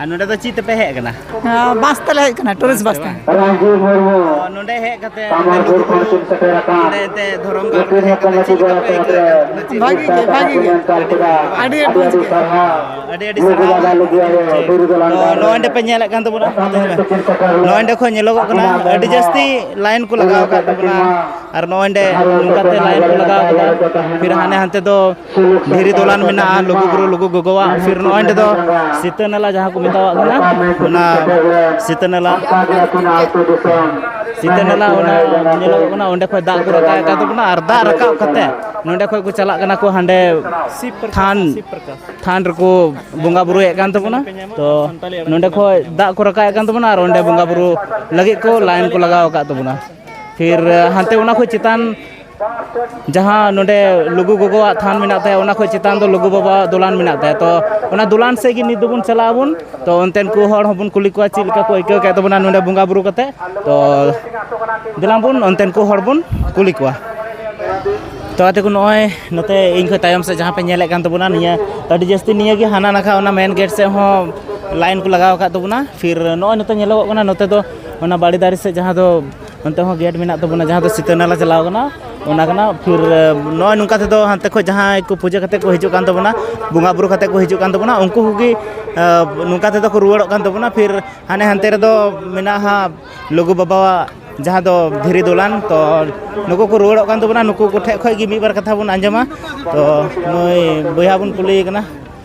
ᱟᱨ ᱱᱚᱰᱮ ᱫᱚ ᱪᱮᱫ ᱛᱮᱯᱮ ᱦᱮᱡ ᱟᱠᱟᱱᱟ ᱵᱟᱥ ᱛᱮᱞᱮ ᱦᱮᱡ ᱟᱠᱟᱱᱟ ᱴᱩᱨᱤᱥᱴ ᱵᱟᱥ ᱛᱮ ᱱᱚᱰᱮ ᱦᱮᱡ ᱠᱟᱛᱮ ᱱᱚᱰᱮ ᱛᱮ ᱫᱷᱚᱨᱚᱢ ᱜᱟᱲ ᱨᱮ ᱦᱮᱡ ᱠᱟᱛᱮ ᱪᱮᱫ ᱞᱮᱠᱟ ᱯᱮ ᱟᱹᱭᱠᱟᱹᱣ ᱵᱷᱟᱹᱜᱤ ᱜᱮ ᱵᱷᱟᱹᱜᱤ ᱜᱮ ᱟᱹᱰᱤ ᱟᱹᱰᱤ ᱟᱹᱰᱤ ᱟᱹᱰᱤ ᱥᱟᱨᱦᱟᱣ ᱱᱚᱰᱮ ᱯᱮ ᱧᱮᱞᱮᱫ ᱠᱟᱱ ᱛᱟᱵᱚᱱᱟ ᱱᱚᱰᱮ ᱠᱷᱚᱱ ᱧᱮᱞᱚᱜᱚᱜ ᱠᱟᱱᱟ ᱟᱹᱰᱤ ᱡᱟᱹᱥᱛᱤ ᱞᱟᱭᱤᱱ ᱠᱚ ᱞᱟᱜᱟᱣ ᱟᱠᱟᱫ ᱛᱟᱵᱚᱱᱟ ᱟᱨ ᱱᱚᱰᱮ ᱱᱚᱝᱠᱟᱛᱮ ᱞᱟᱭᱤᱱ ᱠᱚ ᱞᱟᱜᱟᱣ ᱟᱠᱟᱫᱟ ᱯᱷᱤᱨ ᱦᱟᱱᱮ ᱦᱟᱱᱛᱮ ᱫᱚ ᱫᱷᱤᱨᱤ ᱫᱚᱞᱟᱱ ᱢᱮᱱᱟᱜᱼᱟ ᱞᱩᱜᱩᱵᱩᱨᱩ ᱞᱩᱜᱩ ᱜᱚᱜᱚᱣᱟᱜ ᱯᱷᱤᱨ ᱱᱚᱜᱼᱚᱭ ᱱᱚᱸᱰᱮ ᱫᱚ ᱥᱤᱛᱟᱹ ᱱᱟᱞᱟ ᱡᱟᱦᱟᱸ ᱠᱚ ᱢᱮᱛᱟᱣᱟᱜ ᱠᱟᱱᱟ ᱚᱱᱟ ᱥᱤᱛᱟᱹ ᱱᱟᱞᱟ ᱥᱤᱛᱟᱹ ᱱᱟᱞᱟ ᱚᱱᱟ ᱧᱮᱞᱚᱜᱚᱜ ᱠᱟᱱᱟ ᱚᱸᱰᱮ ᱠᱷᱚᱡ ᱫᱟᱜ ᱠᱚ ᱨᱟᱠᱟᱵ ᱠᱟᱱ ᱛᱟᱵᱚᱱᱟ ᱟᱨ ᱫᱟᱜ ᱨᱟᱠᱟᱵ ᱠᱟᱛᱮ ᱱᱚᱸᱰᱮ ᱠᱷᱚᱡ ᱠᱚ ᱪᱟᱞᱟᱜ ᱠᱟᱱᱟ ᱠᱚ ᱦᱟᱸᱰᱮ ᱛᱷᱟᱱ ᱛᱷᱟᱱ ᱨᱮᱠᱚ ᱵᱚᱸᱜᱟ ᱵᱩᱨᱩᱭᱮᱫ ᱠᱟᱱ ᱛᱟᱵᱚᱱᱟ ᱛᱚ ᱱᱚᱸᱰᱮ ᱠᱷᱚᱡ ᱫᱟᱜ ᱠᱚ ᱨᱟᱠᱟᱵ ᱠᱟᱱ ᱛᱟᱵᱚᱱᱟ ᱟᱨ ᱚᱸᱰᱮ ᱵᱚᱸᱜᱟ ᱵᱩᱨᱩ ᱞᱟᱹᱜᱤᱫ ᱠᱚ ᱞᱟᱭᱤᱱ ᱠᱚ ᱞᱟᱜᱟᱣ ᱟᱠᱟᱫ ᱛᱟᱵᱚᱱᱟ ᱯᱷᱤᱨ ᱦᱟᱱᱛᱮ ᱚᱱᱟ ᱠᱷᱚᱡ ᱪᱮᱛᱟᱱ ᱡᱟᱦᱟᱸ ᱱᱚᱰᱮ ᱞᱩᱜᱩ ᱜᱚᱜᱚᱣᱟᱜ ᱛᱷᱟᱱ ᱢᱮᱱᱟᱜ ᱛᱟᱭᱟ ᱚᱱᱟ ᱠᱷᱚᱱ ᱪᱮᱛᱟᱱ ᱫᱚ ᱞᱩᱜᱩ ᱵᱟᱵᱟᱣᱟᱜ ᱫᱚᱞᱟᱱ ᱢᱮᱱᱟᱜ ᱛᱟᱭᱟ ᱛᱚ ᱚᱱᱟ ᱫᱚᱞᱟᱱ ᱥᱮᱫ ᱜᱮ ᱱᱤᱛ ᱫᱚᱵᱚᱱ ᱪᱟᱞᱟᱜ ᱟᱵᱚᱱ ᱛᱚ ᱚᱱᱛᱮᱱ ᱠᱚ ᱦᱚᱲ ᱦᱚᱸᱵᱚᱱ ᱠᱩᱞᱤ ᱠᱚᱣᱟ ᱪᱮᱫ ᱞᱮᱠᱟ ᱠᱚ ᱟᱹᱭᱠᱟᱹᱣ ᱠᱮᱫ ᱛᱟᱵᱚᱱᱟ ᱱᱚᱰᱮ ᱵᱚᱸᱜᱟᱼᱵᱩᱨᱩ ᱠᱟᱛᱮᱫ ᱛᱚ ᱫᱮᱞᱟ ᱵᱚᱱ ᱚᱱᱛᱮᱱ ᱠᱚ ᱦᱚᱲ ᱵᱚᱱ ᱠᱩᱞᱤ ᱠᱚᱣᱟ ᱛᱚ ᱟᱛᱮ ᱠᱚ ᱱᱚᱜᱼᱚᱭ ᱱᱚᱛᱮ ᱤᱧ ᱠᱷᱚᱱ ᱛᱟᱭᱚᱢ ᱥᱮᱫ ᱡᱟᱦᱟᱸ ᱯᱮ ᱧᱮᱞᱮᱫ ᱠᱟᱱ ᱛᱟᱵᱚᱱᱟ ᱱᱤᱭᱟᱹ ᱟᱹᱰᱤ ᱡᱟᱹᱥᱛᱤ ᱱᱤᱭᱟᱹ ᱜᱮ ᱦᱟᱱᱟ ᱱᱟᱠᱷᱟ ᱚᱱᱟ ᱢᱮᱱ ᱜᱮᱴ ᱥᱮᱫ ᱦᱚᱸ ᱞᱟᱭᱤᱱ ᱠᱚ ᱞᱟᱜᱟᱣ ᱟᱠᱟᱫ ᱛᱟᱵᱚᱱᱟ ᱯᱷᱤᱨ ᱱᱚᱜᱼᱚᱭ ᱱᱚᱛᱮ ᱧᱮᱞᱚᱜᱚᱜ ᱠᱟᱱᱟ ᱱᱚᱛᱮ ᱫᱚ ᱚᱱᱟ ᱵᱟᱲᱮ ᱫᱟᱨᱮ ᱥᱮᱫ ᱡᱟᱦᱟᱸ ᱫᱚ ᱚᱱᱛᱮ ᱦᱚᱸ ᱜᱮᱴ ᱢᱮᱱᱟᱜ ᱛᱟᱵᱚᱱᱟ ᱡᱟᱦᱟᱸ ᱫᱚ ᱥᱤᱛᱟᱹ ᱱᱟᱞᱟ ᱪᱟᱞᱟᱣ ᱠᱟᱱᱟ ᱚᱱᱟ ᱠᱟᱱᱟ ᱯᱷᱤᱨ ᱱᱚᱜᱼᱚᱭ ᱱᱚᱝᱠᱟ ᱛᱮᱫᱚ ᱦᱟᱱᱛᱮ ᱠᱷᱚᱱ ᱡᱟᱦᱟᱸᱭ ᱠᱚ ᱯᱩᱡᱟᱹ ᱠᱟᱛᱮᱫ ᱠᱚ ᱦᱤᱡᱩᱜ ᱠᱟᱱ ᱛᱟᱵᱚᱱᱟ ᱵᱚᱸᱜᱟᱼᱵᱩᱨᱩ ᱠᱟᱛᱮᱫ ᱠᱚ ᱦᱤᱡᱩᱜ ᱠᱟᱱ ᱛᱟᱵᱚᱱᱟ ᱩᱱᱠᱩ ᱠᱚᱜᱮ ᱱᱚᱝᱠᱟ ᱛᱮᱫᱚ ᱠᱚ ᱨᱩᱣᱟᱹᱲᱚᱜ ᱠᱟᱱ ᱛᱟᱵᱚᱱᱟ ᱯᱷᱤᱨ ᱦᱟᱱᱮ ᱦᱟᱱᱛᱮ ᱨᱮᱫᱚ ᱢᱮᱱᱟᱜᱼᱟ ᱦᱟᱸᱜ ᱞᱩᱜᱩ ᱵᱟᱵᱟᱣᱟᱜ ᱡᱟᱦᱟᱸ ᱫᱚ ᱫᱷᱤᱨᱤ ᱫᱚᱞᱟᱱ ᱛᱚ ᱱᱩᱠᱩ ᱠᱚ ᱨᱩᱣᱟᱹᱲᱚᱜ ᱠᱟᱱ ᱛᱟᱵᱚᱱᱟ ᱱᱩᱠᱩ ᱠᱚᱴᱷᱮᱱ ᱠᱷᱚᱱ ᱜᱮ ᱢᱤᱫ ᱵᱟᱨ ᱠᱟᱛᱷᱟ ᱵᱚᱱ ᱟᱸᱡᱚᱢᱟ ᱛᱚ ᱱᱩᱭ ᱵᱚᱭᱦᱟ ᱵᱚᱱ ᱠᱩᱞᱤᱭᱮ ᱠᱟᱱᱟ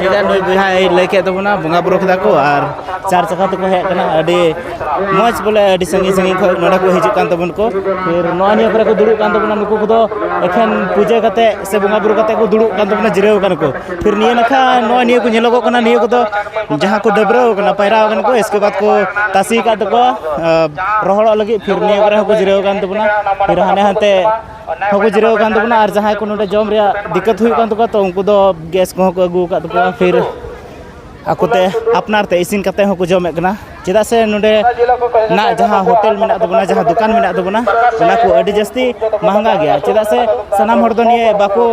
ᱪᱮᱫᱟᱜ ᱱᱩᱭ ᱵᱚᱭᱦᱟᱭ ᱞᱟᱹᱭ ᱠᱮᱫ ᱛᱟᱵᱚᱱᱟ ᱵᱚᱸᱜᱟ ᱵᱩᱨᱩ ᱠᱮᱫᱟ ᱠᱚ ᱟᱨ ᱪᱟᱨ ᱪᱟᱠᱟ ᱛᱮᱠᱚ ᱦᱮᱡ ᱠᱟᱱᱟ ᱟᱹᱰᱤ ᱢᱚᱡᱽ ᱵᱚᱞᱮ ᱟᱹᱰᱤ ᱥᱟᱺᱜᱤᱧ ᱥᱟᱺᱜᱤᱧ ᱠᱷᱚᱱ ᱱᱚᱰᱮ ᱠᱚ ᱦᱤᱡᱩᱜ ᱠᱟᱱ ᱛᱟᱵᱚᱱ ᱠᱚ ᱯᱷᱤᱨ ᱱᱚᱣᱟ ᱱᱤᱭᱟᱹ ᱠᱚᱨᱮ ᱠᱚ ᱫᱩᱲᱩᱵ ᱠᱟᱱ ᱛᱟᱵᱚᱱᱟ ᱱᱩᱠᱩ ᱠᱚᱫᱚ ᱮᱠᱷᱮᱱ ᱯᱩᱡᱟᱹ ᱠᱟᱛᱮᱫ ᱥᱮ ᱵᱚᱸᱜᱟ ᱵᱩᱨᱩ ᱠᱟᱛᱮᱫ ᱠᱚ ᱫᱩᱲᱩᱵ ᱠᱟᱱ ᱛᱟᱵᱚᱱᱟ ᱡᱤᱨᱟᱹᱣ ᱠᱟᱱᱟ ᱠᱚ ᱯᱷᱤᱨ ᱱᱤᱭᱟᱹ ᱱᱟᱠᱷᱟ ᱱᱚᱜᱼᱚᱭ ᱱᱤᱭᱟᱹ ᱠᱚ ᱧᱮᱞᱚᱜᱚᱜ ᱠᱟᱱᱟ ᱱᱤᱭᱟᱹ ᱠᱚᱫᱚ ᱡᱟᱦᱟᱸ ᱠᱚ ᱰᱟᱹᱵᱽᱨᱟᱹᱣ ᱠᱟᱱᱟ ᱯᱟᱭᱨᱟᱣ ᱠᱟᱱᱟ ᱠᱚ ᱤᱥᱠᱮ ᱵᱟᱫᱽ ᱠᱚ ᱛᱟᱥᱮ ᱟᱠᱟᱫ ᱛᱟᱠᱚᱣᱟ ᱨᱚᱦᱚᱲᱚᱜ ᱞᱟᱹᱜᱤᱫ ᱯᱷᱤᱨ ᱱᱤᱭᱟᱹ ᱠᱚᱨᱮ ᱦᱚᱸᱠᱚ ᱡᱤᱨᱟᱹᱣ ᱠᱟᱱ ᱛᱟᱵᱚᱱᱟ ᱯᱷᱤᱨ ᱦᱟᱱᱮ ᱦᱟᱱᱛᱮ ᱦᱚᱸᱠᱚ ᱡᱤᱨᱟᱹᱣ ᱟᱠᱟᱱ ᱛᱟᱵᱚᱱᱟ ᱟᱨ ᱡᱟᱦᱟᱸᱭ ᱠᱚ ᱱᱚᱰᱮ ᱡᱚᱢ ᱨᱮᱭᱟᱜ ᱫᱤᱠᱠᱟᱹᱛ ᱦᱩᱭᱩᱜ ᱠᱟᱱ ᱛᱟᱠᱚᱣᱟ ᱛᱚ ᱩᱱᱠᱩ ᱫᱚ ᱜᱮᱥ ᱠᱚᱦᱚᱸ ᱠᱚ ᱟᱹᱜᱩ ᱟᱠᱟᱫ ᱛᱟᱠᱚᱣᱟ ᱯᱷᱤᱨ ᱟᱠᱚᱛᱮ ᱟᱯᱱᱟᱨ ᱛᱮ ᱤᱥᱤᱱ ᱠᱟᱛᱮ ᱦᱚᱸᱠᱚ ᱡᱚᱢᱮᱫ ᱠᱟᱱᱟ ᱪᱮᱫᱟᱜ ᱥᱮ ᱱᱚᱰᱮ ᱱᱟᱜ ᱡᱟᱦᱟᱸ ᱦᱳᱴᱮᱞ ᱢᱮᱱᱟᱜ ᱛᱟᱵᱚᱱᱟ ᱡᱟᱦᱟᱸ ᱫᱚᱠᱟᱱ ᱢᱮᱱᱟᱜ ᱛᱟᱵᱚᱱᱟ ᱚᱱᱟ ᱠᱚ ᱟᱹᱰᱤ ᱡᱟᱹᱥᱛᱤ ᱢᱟᱦᱟᱝᱜᱟ ᱜᱮᱭᱟ ᱪᱮᱫᱟᱜ ᱥᱮ ᱥᱟᱱᱟᱢ ᱦᱚᱲ ᱫᱚ ᱱᱤᱭᱟᱹ ᱵᱟᱠᱚ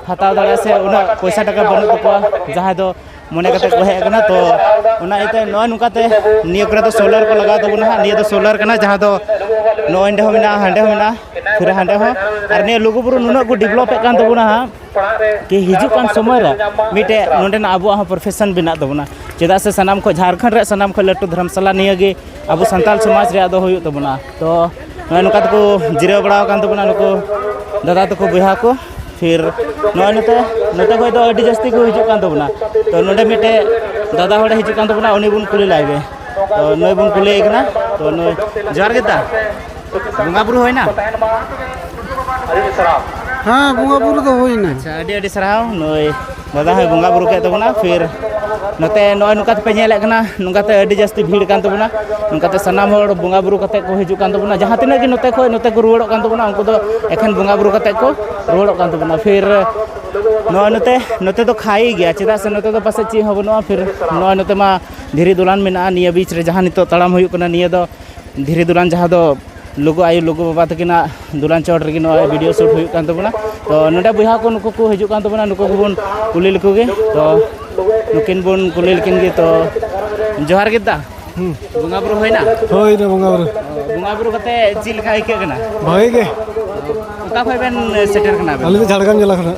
ᱦᱟᱛᱟᱣ ᱫᱟᱲᱮᱭᱟᱜᱼᱟ ᱥᱮ ᱩᱱᱟᱹᱜ ᱯᱚᱭᱥᱟ ᱴᱟᱠᱟ ᱵᱟᱹᱱᱩᱜ ᱛᱟᱠᱚᱣᱟ ᱡᱟᱦᱟᱸᱭ ᱫᱚ ᱢᱚᱱᱮ ᱠᱟᱛᱮ ᱠᱚ ᱦᱮᱡ ᱟᱠᱟᱱᱟ ᱛᱚ ᱚᱱᱟ ᱤᱭᱟᱹᱛᱮ ᱱᱚᱜᱼᱚᱭ ᱱᱚᱝᱠᱟᱛᱮ ᱱᱤᱭᱟᱹ ᱠᱚᱨᱮ ᱫᱚ ᱥᱳᱞᱟᱨ ᱠᱚ ᱞᱟᱜᱟᱣ ᱛᱟᱵᱚᱱᱟ ᱦᱟᱸᱜ ᱱᱤᱭᱟᱹ ᱫᱚ ᱥᱳᱞᱟᱨ ᱠᱟᱱᱟ ᱡᱟᱦᱟᱸ ᱫᱚ ᱱᱚᱜᱼᱚᱭ ᱱᱚᱸᱰᱮ ᱦᱚᱸ ᱢᱮᱱᱟᱜᱼᱟ ᱦᱟᱸᱰᱮ ᱦᱚᱸ ᱢᱮᱱᱟᱜᱼᱟ ᱯᱷᱤᱨ ᱦᱟᱸᱰᱮ ᱦᱚᱸ ᱟᱨ ᱱᱤᱭᱟᱹ ᱞᱩᱜᱩᱵᱩᱨᱩ ᱱᱩᱱᱟᱹᱜ ᱠᱚ ᱰᱮᱵᱷᱞᱚᱯᱮᱫ ᱠᱟᱱ ᱛᱟᱵᱚᱱᱟ ᱦᱟᱸᱜ ᱠᱤ ᱦᱤᱡᱩᱜ ᱠᱟᱱ ᱥᱚᱢᱚᱭ ᱨᱮ ᱢᱤᱫᱴᱮᱡ ᱱᱚᱸᱰᱮᱱᱟᱜ ᱟᱵᱚᱣᱟᱜ ᱦᱚᱸ ᱯᱨᱚᱯᱷᱮᱥᱚᱱ ᱵᱮᱱᱟᱜ ᱛᱟᱵᱚᱱᱟ ᱪᱮᱫᱟᱜ ᱥᱮ ᱥᱟᱱᱟᱢ ᱠᱷᱚᱱ ᱡᱷᱟᱲᱠᱷᱚᱸᱰ ᱨᱮ ᱥᱟᱱᱟᱢ ᱠᱷᱚᱱ ᱞᱟᱹᱴᱩ ᱫᱷᱚᱨᱢᱥᱟᱞᱟ ᱱᱤᱭᱟᱹ ᱜᱮ ᱟᱵᱚ ᱥᱟᱱᱛᱟᱲ ᱥᱚᱢᱟᱡᱽ ᱨᱮᱭᱟᱜ ᱫᱚ ᱦᱩᱭᱩᱜ ᱛᱟᱵᱚᱱᱟ ᱛᱚ ᱱᱚᱜᱼᱚᱭ ᱱᱚᱝᱠᱟ ᱛᱮᱠᱚ ᱡᱤᱨᱟᱹᱣ ᱵᱟᱲᱟᱣ ᱠᱟᱱ ᱛᱟᱵᱚᱱᱟ ᱱᱩᱠᱩ ᱫᱟᱫᱟ ᱛᱟᱠᱚ ᱵᱚᱭᱦᱟ ᱠᱚ ᱯᱷᱤᱨ ᱱᱚᱜᱼᱚᱭ ᱱᱚᱛᱮ ᱱᱚᱛᱮ ᱠᱷᱚᱡ ᱫᱚ ᱟᱹᱰᱤ ᱡᱟᱹᱥᱛᱤ ᱠᱚ ᱦᱤᱡᱩᱜ ᱠᱟᱱ ᱛᱟᱵᱚᱱᱟ ᱛᱚ ᱱᱚᱰᱮ ᱢᱤᱫᱴᱮᱡ ᱫᱟᱫᱟ ᱦᱚᱲᱮ ᱦᱤᱡᱩᱜ ᱠᱟᱱ ᱛᱟᱵᱚᱱᱟ ᱩᱱᱤ ᱵᱚᱱ ᱠᱩᱞᱤ ᱞᱟᱭ ᱜᱮ ᱛᱚ ᱱᱩᱭ ᱵᱚᱱ ᱠᱩᱞᱤᱭᱮ ᱠᱟᱱᱟ ᱛᱚ ᱱᱩᱭ ᱡᱚᱦᱟᱨ ᱜᱮ ᱫᱟ ᱵᱚᱸᱜᱟ ᱵᱩᱨᱩ ᱦᱩᱭᱱᱟ ᱦᱮᱸ ᱵᱚᱸᱜᱟ ᱵᱩᱨᱩ ᱫᱚ ᱦᱩᱭᱱᱟ ᱟᱪᱪᱷᱟ ᱟᱹᱰᱤ ᱟᱹᱰᱤ ᱥᱟᱨᱦᱟᱣ ᱱᱩᱭ ᱫᱟᱫᱟ ᱦᱚᱸᱭ ᱵᱚᱸᱜᱟ ᱵᱩᱨᱩ ᱠᱮᱫ ᱛᱟᱵᱚᱱᱟ ᱯᱷᱤᱨ ᱱᱚᱛᱮ ᱱᱚᱜᱼᱚᱭ ᱱᱚᱝᱠᱟ ᱛᱮᱯᱮ ᱧᱮᱞᱮᱫ ᱠᱟᱱᱟ ᱱᱚᱝᱠᱟᱛᱮ ᱟᱹᱰᱤ ᱡᱟᱹᱥᱛᱤ ᱵᱷᱤᱲ ᱠᱟᱱ ᱛᱟᱵᱚᱱᱟ ᱱᱚᱝᱠᱟᱛᱮ ᱥᱟᱱᱟᱢ ᱦᱚᱲ ᱵᱚᱸᱜᱟ ᱵᱩᱨᱩ ᱠᱟᱛᱮ ᱠᱚ ᱦᱤᱡᱩᱜ ᱠᱟᱱ ᱛᱟᱵᱚᱱᱟ ᱡᱟᱦᱟᱸ ᱛᱤᱱᱟᱹᱜ ᱜᱮ ᱱᱚᱛᱮ ᱠᱷᱚᱱ ᱱᱚᱛᱮ ᱠᱚ ᱨᱩᱣᱟᱹᱲᱚᱜ ᱠᱟᱱ ᱛᱟᱵᱚᱱᱟ ᱩᱱᱠᱩ ᱫᱚ ᱮᱠᱷᱮᱱ ᱵᱚᱸᱜᱟ ᱵᱩᱨᱩ ᱠᱟᱛᱮ ᱠᱚ ᱨᱩᱣᱟᱹᱲᱚᱜ ᱠᱟᱱ ᱛᱟᱵᱚᱱᱟ ᱯᱷᱤᱨ ᱱᱚᱜᱼᱚᱭ ᱱᱚᱛᱮ ᱱᱚᱛᱮ ᱫᱚ ᱠᱷᱟᱭ ᱜᱮᱭᱟ ᱪᱮᱫᱟᱜ ᱥᱮ ᱱᱚᱛᱮ ᱫᱚ ᱯᱟᱥᱮᱡ ᱪᱮᱫ ᱦᱚᱸ ᱵᱟᱹᱱᱩᱜᱼᱟ ᱯᱷᱤᱨ ᱱᱚᱜᱼᱚᱭ ᱱᱚᱛᱮ ᱢᱟ ᱫᱷᱤᱨᱤ ᱫᱚᱞᱟᱱ ᱢᱮᱱᱟᱜᱼᱟ ᱱᱤᱭᱟᱹ ᱵᱤᱪ ᱨᱮ ᱡᱟᱦᱟᱸ ᱱᱤᱛᱚᱜ ᱛᱟᱲᱟᱢ ᱦᱩᱭᱩᱜ ᱠᱟᱱᱟ ᱱᱤᱭᱟᱹ ᱫᱚ ᱫᱷᱤᱨᱤ ᱫᱚᱞᱟᱱ ᱡᱟᱦᱟᱸ ᱫᱚ ᱞᱩᱜᱩ ᱟᱭᱳ ᱞᱩᱜᱩ ᱵᱟᱵᱟ ᱛᱟᱹᱠᱤᱱᱟᱜ ᱫᱩᱞᱟᱱ ᱪᱚᱴ ᱨᱮᱜᱮ ᱱᱚᱣᱟ ᱵᱷᱤᱰᱤᱭᱳ ᱥᱩᱴ ᱦᱩᱭᱩᱜ ᱠᱟᱱ ᱛᱟᱵᱚᱱᱟ ᱛᱚ ᱱᱚᱰᱮ ᱵᱚᱭᱦᱟ ᱠᱚ ᱱᱩᱠᱩ ᱠᱚ ᱦᱤᱡᱩᱜ ᱠᱟᱱ ᱛᱟᱵᱚᱱᱟ ᱱᱩᱠᱩ ᱠᱚᱵᱚᱱ ᱠᱩᱞᱤ ᱞᱮᱠᱚ ᱜᱮ ᱛᱚ ᱱᱩᱠᱤᱱ ᱵᱚᱱ ᱠᱩᱞᱤ ᱞᱮᱠᱤᱱ ᱜᱮ ᱛᱚ ᱡᱚᱦᱟᱨ ᱜᱮ ᱫᱟ ᱵᱚᱸᱜᱟ ᱵᱩᱨᱩ ᱦᱩᱭᱱᱟ ᱦᱳᱭ ᱨᱮ ᱵᱚᱸᱜᱟ ᱵᱩᱨᱩ ᱵᱚᱸᱜᱟ ᱵᱩᱨᱩ ᱠᱟᱛᱮ ᱪᱮᱫ ᱞᱮᱠᱟ ᱟᱹᱭᱠᱟᱹᱜ ᱠᱟᱱᱟ ᱵᱷᱟᱜᱮ ᱜᱮ ᱚᱠᱟ ᱠᱷᱚᱱ ᱵᱮᱱ ᱥᱮᱴᱮᱨ ᱠᱟᱱᱟ ᱟᱹᱞᱤᱧ ᱫᱚ ᱡᱷᱟᱲᱜᱨᱟᱢ ᱡᱮᱞᱟ ᱠᱷᱚᱱᱟᱜ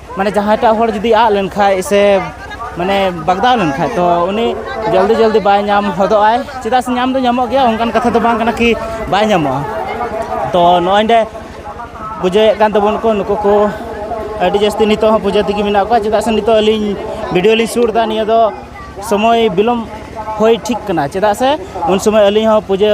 ᱢᱟᱱᱮ ᱡᱟᱦᱟᱸᱭ ᱴᱟᱜ ᱦᱚᱲ ᱡᱩᱫᱤ ᱟᱫ ᱞᱮᱱᱠᱷᱟᱡ ᱥᱮ ᱢᱟᱱᱮ ᱵᱟᱜᱽᱫᱟᱣ ᱞᱮᱱᱠᱷᱟᱡ ᱛᱚ ᱩᱱᱤ ᱡᱚᱞᱫᱤ ᱡᱚᱞᱫᱤ ᱵᱟᱭ ᱧᱟᱢ ᱦᱚᱫᱚᱜ ᱟᱭ ᱪᱮᱫᱟᱜ ᱥᱮ ᱧᱟᱢ ᱫᱚ ᱧᱟᱢᱚᱜ ᱜᱮᱭᱟ ᱚᱱᱠᱟᱱ ᱠᱟᱛᱷᱟ ᱫᱚ ᱵᱟᱝ ᱠᱟᱱᱟ ᱠᱤ ᱵᱟᱭ ᱧᱟᱢᱚᱜᱼᱟ ᱛᱚ ᱱᱚᱜᱼᱚᱭ ᱱᱚᱰᱮ ᱯᱩᱡᱟᱹᱭᱮᱫ ᱠᱟᱱ ᱛᱟᱵᱚᱱ ᱠᱚ ᱱᱩᱠᱩ ᱠᱚ ᱟᱹᱰᱤ ᱡᱟᱹᱥᱛᱤ ᱱᱤᱛᱚᱜ ᱦᱚᱸ ᱯᱩᱡᱟᱹ ᱛᱮᱜᱮ ᱢᱮᱱᱟᱜ ᱠᱚᱣᱟ ᱪᱮᱫᱟᱜ ᱥᱮ ᱱᱤᱛᱚᱜ ᱟᱹᱞᱤᱧ ᱵᱷᱤᱰᱤᱭᱳ ᱞᱤᱧ ᱥᱩᱴ ᱮᱫᱟ ᱱᱤᱭᱟᱹ ᱫᱚ ᱥᱚᱢᱚᱭ ᱵᱤᱞᱚᱢ ᱦᱩᱭ ᱴᱷᱤᱠ ᱠᱟᱱᱟ ᱪᱮᱫᱟᱜ ᱥᱮ ᱩᱱ ᱥᱚᱢᱚᱭ ᱟᱹᱞᱤᱧ ᱦᱚᱸ ᱯᱩᱡᱟᱹ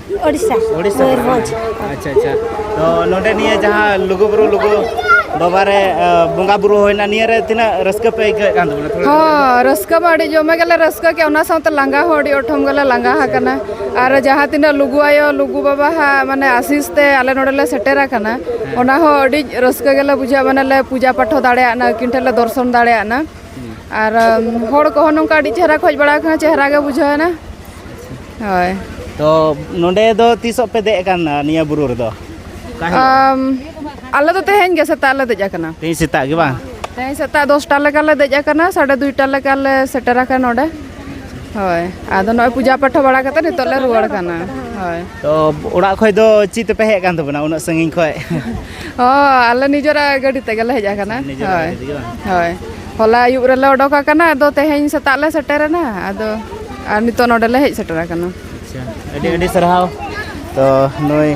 ᱳᱰᱤᱥᱟ ᱳᱰᱤᱥᱟ ᱢᱚᱭᱩᱨᱵᱷᱚᱸᱡᱽ ᱟᱪᱪᱷᱟ ᱟᱪᱪᱷᱟ ᱛᱚ ᱱᱚᱰᱮ ᱱᱤᱭᱟᱹ ᱡᱟᱦᱟᱸ ᱞᱩᱜᱩ ᱵᱩᱨᱩ ᱞᱩᱜᱩ ᱵᱟᱵᱟ ᱨᱮ ᱵᱚᱸᱜᱟ ᱵᱩᱨᱩ ᱦᱩᱭᱱᱟ ᱱᱤᱭᱟᱹ ᱨᱮ ᱛᱤᱱᱟᱹᱜ ᱨᱟᱹᱥᱠᱟᱹ ᱯᱮ ᱟᱹᱭᱠᱟᱹᱣᱮᱫ ᱠᱟᱱ ᱛᱟᱵᱚᱱᱟ ᱛᱷᱚᱲᱟ ᱦᱚᱸ ᱨᱟᱹᱥᱠᱟᱹ ᱢᱟ ᱟᱹᱰᱤ ᱡᱚᱢᱮ ᱜᱮᱞᱮ ᱨᱟᱹᱥᱠᱟᱹ ᱠᱮᱫ ᱚᱱᱟ ᱥᱟᱶᱛᱮ ᱞᱟᱸᱜᱟ ᱦᱚᱸ ᱟᱹᱰᱤ ᱚᱴᱷᱚᱢ ᱜᱮᱞᱮ ᱞᱟᱸᱜᱟ ᱟᱠᱟᱱᱟ ᱟᱨ ᱡᱟᱦᱟᱸ ᱛᱤᱱᱟᱹᱜ ᱞᱩᱜᱩ ᱟᱭᱳ ᱞᱩᱜᱩ ᱵᱟᱵᱟ ᱦᱟᱸᱜ ᱢᱟᱱᱮ ᱟᱥᱤᱥ ᱛᱮ ᱟᱞᱮ ᱱᱚᱰᱮ ᱞᱮ ᱥᱮᱴᱮᱨ ᱟᱠᱟᱱᱟ ᱚᱱᱟ ᱦᱚᱸ ᱟᱹᱰᱤ ᱨᱟᱹᱥᱠᱟᱹ ᱜᱮᱞᱮ ᱵᱩᱡᱷᱟᱹᱣᱟ ᱢᱟᱱᱮ ᱞᱮ ᱯᱩᱡᱟ ᱯᱟᱴᱷᱚ ᱫᱟᱲᱮᱭᱟᱜᱱᱟ ᱩᱱᱠᱤᱱ ᱴᱷᱮᱱ ᱞᱮ ᱫᱚᱨᱥᱚᱱ ᱫᱟᱲᱮᱭᱟᱜᱱᱟ ᱟᱨ ᱦᱚᱲ ᱠᱚᱦᱚᱸ ᱱᱚᱝᱠᱟ ᱟᱹᱰᱤ ᱪᱮᱦᱨᱟ ᱠᱚ ᱦᱮᱡ ᱵᱟᱲᱟ ᱟᱠᱟᱱᱟ ᱪᱮᱦᱨᱟ ᱜᱮ ᱵᱩᱡᱷᱟᱹᱣ ᱮᱱᱟ ᱦᱳᱭ ᱛᱚ ᱱᱚᱰᱮ ᱫᱚ ᱛᱤᱥᱚᱜ ᱯᱮ ᱫᱮᱡ ᱟᱠᱟᱱᱟ ᱱᱤᱭᱟᱹ ᱵᱩᱨᱩ ᱨᱮᱫᱚ ᱟᱞᱮ ᱫᱚ ᱛᱮᱦᱮᱧ ᱜᱮ ᱥᱮᱛᱟᱜ ᱞᱮ ᱫᱮᱡ ᱟᱠᱟᱱᱟ ᱛᱮᱦᱮᱧ ᱥᱮᱛᱟᱜ ᱜᱮ ᱵᱟᱝ ᱛᱮᱦᱮᱧ ᱥᱮᱛᱟᱜ ᱫᱚᱥᱴᱟ ᱞᱮᱠᱟ ᱞᱮ ᱫᱮᱡ ᱟᱠᱟᱱᱟ ᱥᱟᱲᱮ ᱫᱩᱭᱴᱟ ᱞᱮᱠᱟ ᱞᱮ ᱥᱮᱴᱮᱨ ᱟᱠᱟᱱᱟ ᱱᱚᱰᱮ ᱦᱳᱭ ᱟᱫᱚ ᱱᱚᱜᱼᱚᱭ ᱯᱩᱡᱟ ᱯᱟᱴᱷᱟ ᱵᱟᱲᱟ ᱠᱟᱛᱮ ᱱᱤᱛᱚᱜ ᱞᱮ ᱨᱩᱣᱟᱹᱲ ᱠᱟᱱᱟ ᱦᱳᱭ ᱛᱚ ᱚᱲᱟᱜ ᱠᱷᱚᱡ ᱫᱚ ᱪᱮᱫ ᱛᱮᱯᱮ ᱦᱮᱡ ᱟᱠᱟᱱ ᱛᱟᱵᱚᱱᱟ ᱩᱱᱟᱹᱜ ᱥᱟᱺᱜᱤᱧ ᱠᱷᱚᱡ ᱚ ᱟᱞᱮ ᱱᱤᱡᱮᱨᱟᱜ ᱜᱟᱹᱰᱤ ᱛᱮᱜᱮ ᱞᱮ ᱦᱮᱡ ᱟᱠᱟᱱᱟ ᱦᱳᱭ ᱦᱳᱭ ᱦᱚᱞᱟ ᱟᱹᱭᱩᱵ ᱨᱮᱞᱮ ᱚᱰᱚᱠ ᱟᱠᱟᱱᱟ ᱟᱫᱚ ᱛᱮᱦᱮᱧ ᱥᱮᱛᱟᱜ ᱞᱮ ᱥᱮᱴᱮᱨᱮᱱᱟ ᱟᱫᱚ ᱟᱨ ᱱᱤᱛᱚᱜ ᱱᱚᱰᱮ ᱞᱮ ᱦᱮᱡ ᱥᱮᱴᱮᱨ ᱟᱠᱟᱱᱟ ᱟᱪᱪᱷᱟ ᱟᱹᱰᱤ ᱟᱹᱰᱤ ᱥᱟᱨᱦᱟᱣ ᱛᱚ ᱱᱩᱭ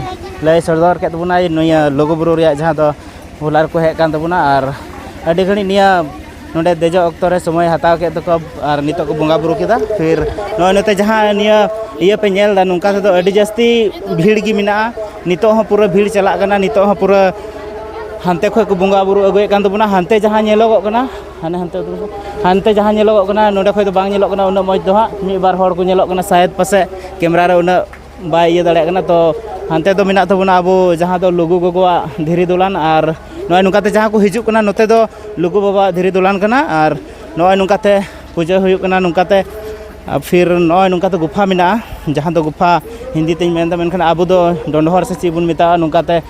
ᱞᱟᱹᱭ ᱥᱚᱫᱚᱨ ᱠᱮᱫ ᱵᱚᱱᱟᱭ ᱱᱤᱭᱟᱹ ᱞᱩᱜᱩᱼᱵᱩᱨᱩ ᱨᱮᱭᱟᱜ ᱡᱟᱦᱟᱸ ᱫᱚ ᱦᱚᱞᱟ ᱨᱮᱠᱚ ᱦᱮᱡ ᱟᱠᱟᱱ ᱛᱟᱵᱚᱱᱟ ᱟᱨ ᱟᱹᱰᱤ ᱜᱷᱟᱹᱲᱤᱡ ᱱᱤᱭᱟᱹ ᱱᱚᱰᱮ ᱫᱮᱡᱚᱜ ᱚᱠᱛᱚ ᱨᱮ ᱥᱚᱢᱚᱭ ᱦᱟᱛᱟᱣ ᱠᱮᱫ ᱛᱟᱠᱚ ᱟᱨ ᱱᱤᱛᱚᱜ ᱠᱚ ᱵᱚᱸᱜᱟ ᱵᱩᱨᱩ ᱠᱮᱫᱟ ᱯᱷᱤᱨ ᱱᱚᱜᱼᱚᱭ ᱱᱚᱛᱮ ᱡᱟᱦᱟᱸ ᱱᱤᱭᱟᱹ ᱤᱭᱟᱹ ᱯᱮ ᱧᱮᱞ ᱮᱫᱟ ᱱᱚᱝᱠᱟ ᱛᱮᱫᱚ ᱟᱹᱰᱤ ᱡᱟᱹᱥᱛᱤ ᱵᱷᱤᱲ ᱜᱮ ᱢᱮᱱᱟᱜᱼᱟ ᱱᱤᱛᱚᱜ ᱦᱚᱸ ᱯᱩᱨᱟᱹ ᱵᱷᱤᱲ ᱪᱟᱞᱟᱜ ᱠᱟᱱᱟ ᱱᱤᱛᱚᱜ ᱦᱚᱸ ᱯᱩᱨᱟᱹ ᱦᱟᱱᱛᱮ ᱠᱷᱚᱱ ᱠᱚ ᱵᱚᱸᱜᱟ ᱵᱩᱨᱩ ᱟᱹᱜᱩᱭᱮᱫ ᱠᱟᱱ ᱛᱟᱵᱚᱱᱟ ᱦᱟᱱᱛᱮ ᱡᱟᱦᱟᱸ ᱧᱮᱞᱚᱜᱚᱜ ᱠᱟᱱᱟ ᱦᱟᱱᱮ ᱦᱟᱱᱛᱮ ᱦᱟᱱᱛᱮ ᱡᱟᱦᱟᱸ ᱧᱮᱞᱚᱜᱚᱜ ᱠᱟᱱᱟ ᱱᱚᱰᱮ ᱠᱷᱚᱱ ᱫᱚ ᱵᱟᱝ ᱧᱮᱞᱚᱜ ᱠᱟᱱᱟ ᱩᱱᱟᱹᱜ ᱢᱚᱡᱽ ᱫᱚ ᱦᱟᱸᱜ ᱢᱤᱫ ᱵᱟᱨ ᱦᱚᱲ ᱠᱚ ᱧᱮᱞᱚᱜ ᱠᱟᱱᱟ ᱥᱟᱭᱮᱫ ᱯᱟᱥᱮᱡ ᱠᱮᱢᱮᱨᱟ ᱨᱮ ᱩᱱᱟᱹᱜ ᱵᱟᱭ ᱤᱭᱟᱹ ᱫᱟᱲᱮᱭᱟᱜ ᱠᱟᱱᱟ ᱛᱚ ᱦᱟᱱᱛᱮ ᱫᱚ ᱢᱮᱱᱟᱜ ᱛᱟᱵᱚᱱᱟ ᱟᱵᱚ ᱡᱟᱦᱟᱸ ᱫᱚ ᱞᱩᱜᱩ ᱜᱚᱜᱚᱣᱟᱜ ᱫᱷᱤᱨᱤ ᱫᱚᱞᱟᱱ ᱟᱨ ᱱᱚᱜᱼᱚᱸᱭ ᱱᱚᱝᱠᱟᱛᱮ ᱡᱟᱦᱟᱸ ᱠᱚ ᱦᱤᱡᱩᱜ ᱠᱟᱱᱟ ᱱᱚᱛᱮ ᱫᱚ ᱞᱩᱜᱩ ᱵᱟᱵᱟᱣᱟᱜ ᱫᱷᱤᱨᱤ ᱫᱚᱞᱟᱱ ᱠᱟᱱᱟ ᱟᱨ ᱱᱚᱜᱼᱚᱸᱭ ᱱᱚᱝᱠᱟᱛᱮ ᱯᱩᱡᱟᱹ ᱦᱩᱭᱩᱜ ᱠᱟᱱᱟ ᱱᱚᱝᱠᱟᱛᱮ ᱟᱨ ᱯᱷᱤᱨ ᱱᱚᱜᱼᱚᱸᱭ ᱱᱚᱝᱠᱟᱛᱮ ᱜᱩᱯᱷᱟ ᱢᱮᱱᱟᱜᱼᱟ ᱡᱟᱦᱟᱸ ᱫᱚ ᱜᱩᱯᱷᱟ ᱦᱤᱱᱫᱤ ᱛᱤᱧ ᱢᱮᱱᱫᱟ ᱢᱮᱱᱠᱷᱟᱱ ᱟᱵᱚ ᱫᱚ ᱰᱚᱸᱰᱷᱚᱨ ᱥᱮ ᱪᱮᱫ ᱵᱚᱱ ᱢᱮᱛᱟᱜᱼᱟ ᱱᱚᱝᱠᱟᱛᱮ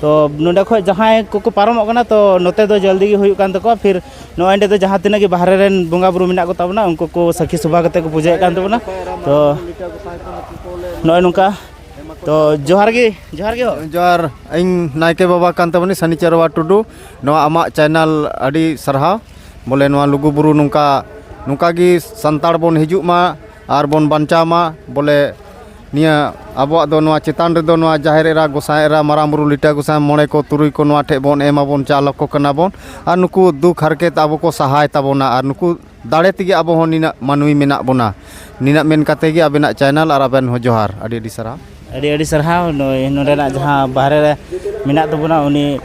ᱛᱚ ᱱᱚᱰᱮ ᱠᱷᱚᱡ ᱡᱟᱦᱟᱸᱭ ᱠᱚᱠᱚ ᱯᱟᱨᱚᱢᱚᱜ ᱠᱟᱱᱟ ᱛᱚ ᱱᱚᱛᱮ ᱫᱚ ᱡᱚᱞᱫᱤ ᱜᱮ ᱦᱩᱭᱩᱜ ᱠᱟᱱ ᱛᱟᱠᱚᱣᱟ ᱯᱷᱤᱨ ᱱᱚᱜᱼᱚᱸᱭ ᱱᱤᱛᱚᱜ ᱡᱟᱦᱟᱸ ᱛᱤᱱᱟᱹᱜ ᱜᱮ ᱵᱟᱦᱨᱮ ᱨᱮᱱ ᱵᱚᱸᱜᱟᱼᱵᱩᱨᱩ ᱢᱮᱱᱟᱜ ᱠᱚᱛᱟ ᱵᱚᱱᱟ ᱩᱱᱠᱩ ᱠᱚ ᱥᱟᱹᱠᱷᱤ ᱥᱚᱵᱷᱟ ᱠᱟᱛᱮᱫ ᱠᱚ ᱯᱩᱡᱟᱹᱭᱮᱫ ᱠᱟᱱ ᱛᱟᱵᱚᱱᱟ ᱛᱚ ᱱᱚᱜᱼᱚᱸᱭ ᱱᱚᱝᱠᱟ ᱛᱚ ᱡᱚᱦᱟᱨ ᱜᱮ ᱡᱚᱦᱟᱨ ᱜᱮ ᱦᱳ ᱡᱚᱦᱟᱨ ᱤᱧ ᱱᱟᱭᱠᱮ ᱵᱟᱵᱟ ᱠᱟᱱ ᱛᱟᱵᱚᱱᱤᱧ ᱥᱟᱹᱱᱤ ᱪᱟᱨᱣᱟ ᱴᱩᱰᱩ ᱱᱚᱣᱟ ᱟᱢᱟᱜ ᱪᱮᱱᱮᱞ ᱟᱹᱰᱤ ᱥᱟᱨᱦᱟᱣ ᱵᱚᱞᱮ ᱱᱚᱣᱟ ᱞᱩᱜᱩᱼᱵᱩᱨᱩ ᱱᱚᱝᱠᱟ ᱱᱚᱝᱠᱟ ᱜᱮ ᱥᱟᱱᱛᱟᱲ ᱵᱚᱱ ᱦᱤᱡᱩᱜ ᱢᱟ ᱟᱨ ᱵᱚᱱ ᱵᱟᱧᱪᱟᱣ ᱢᱟ ᱵᱚᱞᱮ ᱱᱤᱭᱟᱹ ᱟᱵᱚᱣᱟᱜ ᱫᱚ ᱱᱚᱣᱟ ᱪᱮᱛᱟᱱ ᱨᱮᱫᱚ ᱱᱚᱣᱟ ᱡᱟᱦᱮᱨ ᱮᱨᱟ ᱜᱚᱸᱥᱟᱭ ᱮᱨᱟ ᱢᱟᱨᱟᱝ ᱵᱩᱨᱩ ᱞᱤᱴᱟᱹ ᱜᱚᱸᱥᱟᱭ ᱢᱚᱬᱮ ᱠᱚ ᱛᱩᱨᱩᱭ ᱠᱚ ᱱᱚᱣᱟ ᱴᱷᱮᱱ ᱵᱚᱱ ᱮᱢ ᱟᱵᱚᱱ ᱪᱟᱞ ᱟᱠᱚ ᱠᱟᱱᱟ ᱵᱚᱱ ᱟᱨ ᱱᱩᱠᱩ ᱫᱩᱠ ᱦᱟᱨᱠᱮᱛ ᱟᱵᱚ ᱠᱚ ᱥᱟᱦᱟᱭ ᱛᱟᱵᱚᱱᱟ ᱟᱨ ᱱᱩᱠᱩ ᱫᱟᱲᱮ ᱛᱮᱜᱮ ᱟᱵᱚ ᱦᱚᱸ ᱱᱤᱱᱟᱹᱜ ᱢᱟᱹᱱᱢᱤ ᱢᱮᱱᱟᱜ ᱵᱚᱱᱟ ᱱᱤᱱᱟᱹᱜ ᱢᱮᱱ ᱠᱟᱛᱮᱫ ᱜᱮ ᱟᱵᱮᱱᱟᱜ ᱪᱮᱱᱮᱞ ᱟᱨ ᱟᱵᱮᱱ ᱦᱚᱸ ᱡᱚᱦᱟᱨ ᱟᱹᱰᱤ ᱟᱹᱰᱤ ᱥᱟᱨᱦᱟᱣ ᱟᱹᱰᱤ ᱟᱹᱰᱤ ᱥᱟᱨᱦᱟᱣ ᱱᱩᱭ ᱱᱚᱰᱮᱱᱟᱜ ᱡᱟᱦᱟᱸ ᱵᱟᱦᱨᱮ ᱨᱮ ᱢᱮᱱᱟᱜ ᱛᱟᱵᱚᱱᱟ ᱩᱱᱤ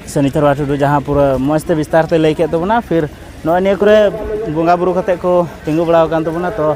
ᱥᱚᱱᱤᱛᱚᱨ ᱵᱟ ᱴᱩᱰᱩ ᱡᱟᱦᱟᱸ ᱯᱩᱨᱟᱹ ᱢᱚᱡᱽ ᱛᱮ ᱵᱤᱥᱛᱟᱨ ᱛᱮ ᱞᱟᱹᱭ ᱠᱮᱫ ᱛᱟᱵᱚᱱᱟ ᱯᱷᱤᱨ ᱱᱚᱜᱼᱚᱭ ᱱᱤᱭᱟᱹ ᱠᱚᱨᱮ ᱵᱚᱸᱜᱟ ᱵᱳᱨᱳ ᱠᱟᱛᱮᱫ ᱠᱚ ᱛᱤᱸᱜᱩ ᱵᱟᱲᱟᱣ ᱠᱟᱱ ᱛᱟᱵᱚᱱᱟ ᱛᱚ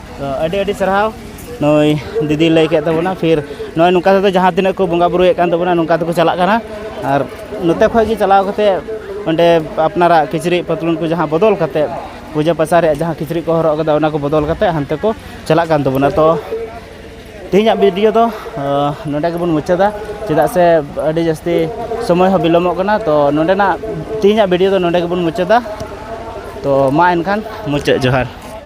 ᱟᱹᱰᱤ ᱟᱹᱰᱤ ᱥᱟᱨᱦᱟᱣ ᱱᱩᱭ ᱫᱤᱫᱤ ᱞᱟᱹᱭ ᱠᱮᱫ ᱛᱟᱵᱚᱱᱟ ᱯᱷᱤᱨ ᱱᱚᱜᱼᱚᱭ ᱱᱚᱝᱠᱟ ᱛᱮᱫᱚ ᱡᱟᱦᱟᱸ ᱛᱤᱱᱟᱹᱜ ᱠᱚ ᱵᱚᱸᱜᱟ ᱵᱩᱨᱩᱭᱮᱫ ᱠᱟᱱ ᱛᱟᱵᱚᱱᱟ ᱱᱚᱝᱠᱟ ᱛᱮᱠᱚ ᱪᱟᱞᱟᱜ ᱠᱟᱱᱟ ᱟᱨ ᱱᱚᱛᱮ ᱠᱷᱚᱱ ᱜᱮ ᱪᱟᱞᱟᱣ ᱠᱟᱛᱮᱫ ᱚᱸᱰᱮ ᱟᱯᱱᱟᱨᱟᱜ ᱠᱤᱪᱨᱤᱡ ᱯᱟᱛᱞᱩᱱ ᱠᱚ ᱡᱟᱦᱟᱸ ᱵᱚᱫᱚᱞ ᱠᱟᱛᱮᱫ ᱯᱩᱡᱟᱹ ᱯᱟᱥᱟ ᱨᱮᱭᱟᱜ ᱡᱟᱦᱟᱸ ᱠᱤᱪᱨᱤᱡ ᱠᱚ ᱦᱚᱨᱚᱜ ᱠᱟᱫᱟ ᱚᱱᱟ ᱠᱚ ᱵᱚᱫᱚᱞ ᱠᱟᱛᱮᱫ ᱦᱟᱱᱛᱮ ᱠᱚ ᱪᱟᱞᱟᱜ ᱠᱟᱱ ᱛᱟᱵᱚᱱᱟ ᱛᱚ ᱛᱮᱦᱮᱧᱟᱜ ᱵᱷᱤᱰᱤᱭᱳ ᱫᱚ ᱱᱚᱰᱮ ᱜᱮᱵᱚᱱ ᱢᱩᱪᱟᱹᱫᱟ ᱪᱮᱫᱟᱜ ᱥᱮ ᱟᱹᱰᱤ ᱡᱟᱹᱥᱛᱤ ᱥᱚᱢᱚᱭ ᱦᱚᱸ ᱵᱤᱞᱚᱢᱚᱜ ᱠᱟᱱᱟ ᱛᱚ ᱱᱚᱰᱮᱱᱟᱜ ᱛᱮᱦᱮᱧᱟᱜ ᱵᱷᱤᱰᱤᱭᱳ ᱫᱚ ᱱᱚᱰᱮ ᱜᱮᱵᱚᱱ ᱢᱩᱪᱟᱹᱫᱟ ᱛᱚ ᱢᱟ ᱮᱱᱠᱷᱟᱱ ᱢᱩᱪᱟᱹᱫ ᱡᱚᱦᱟᱨ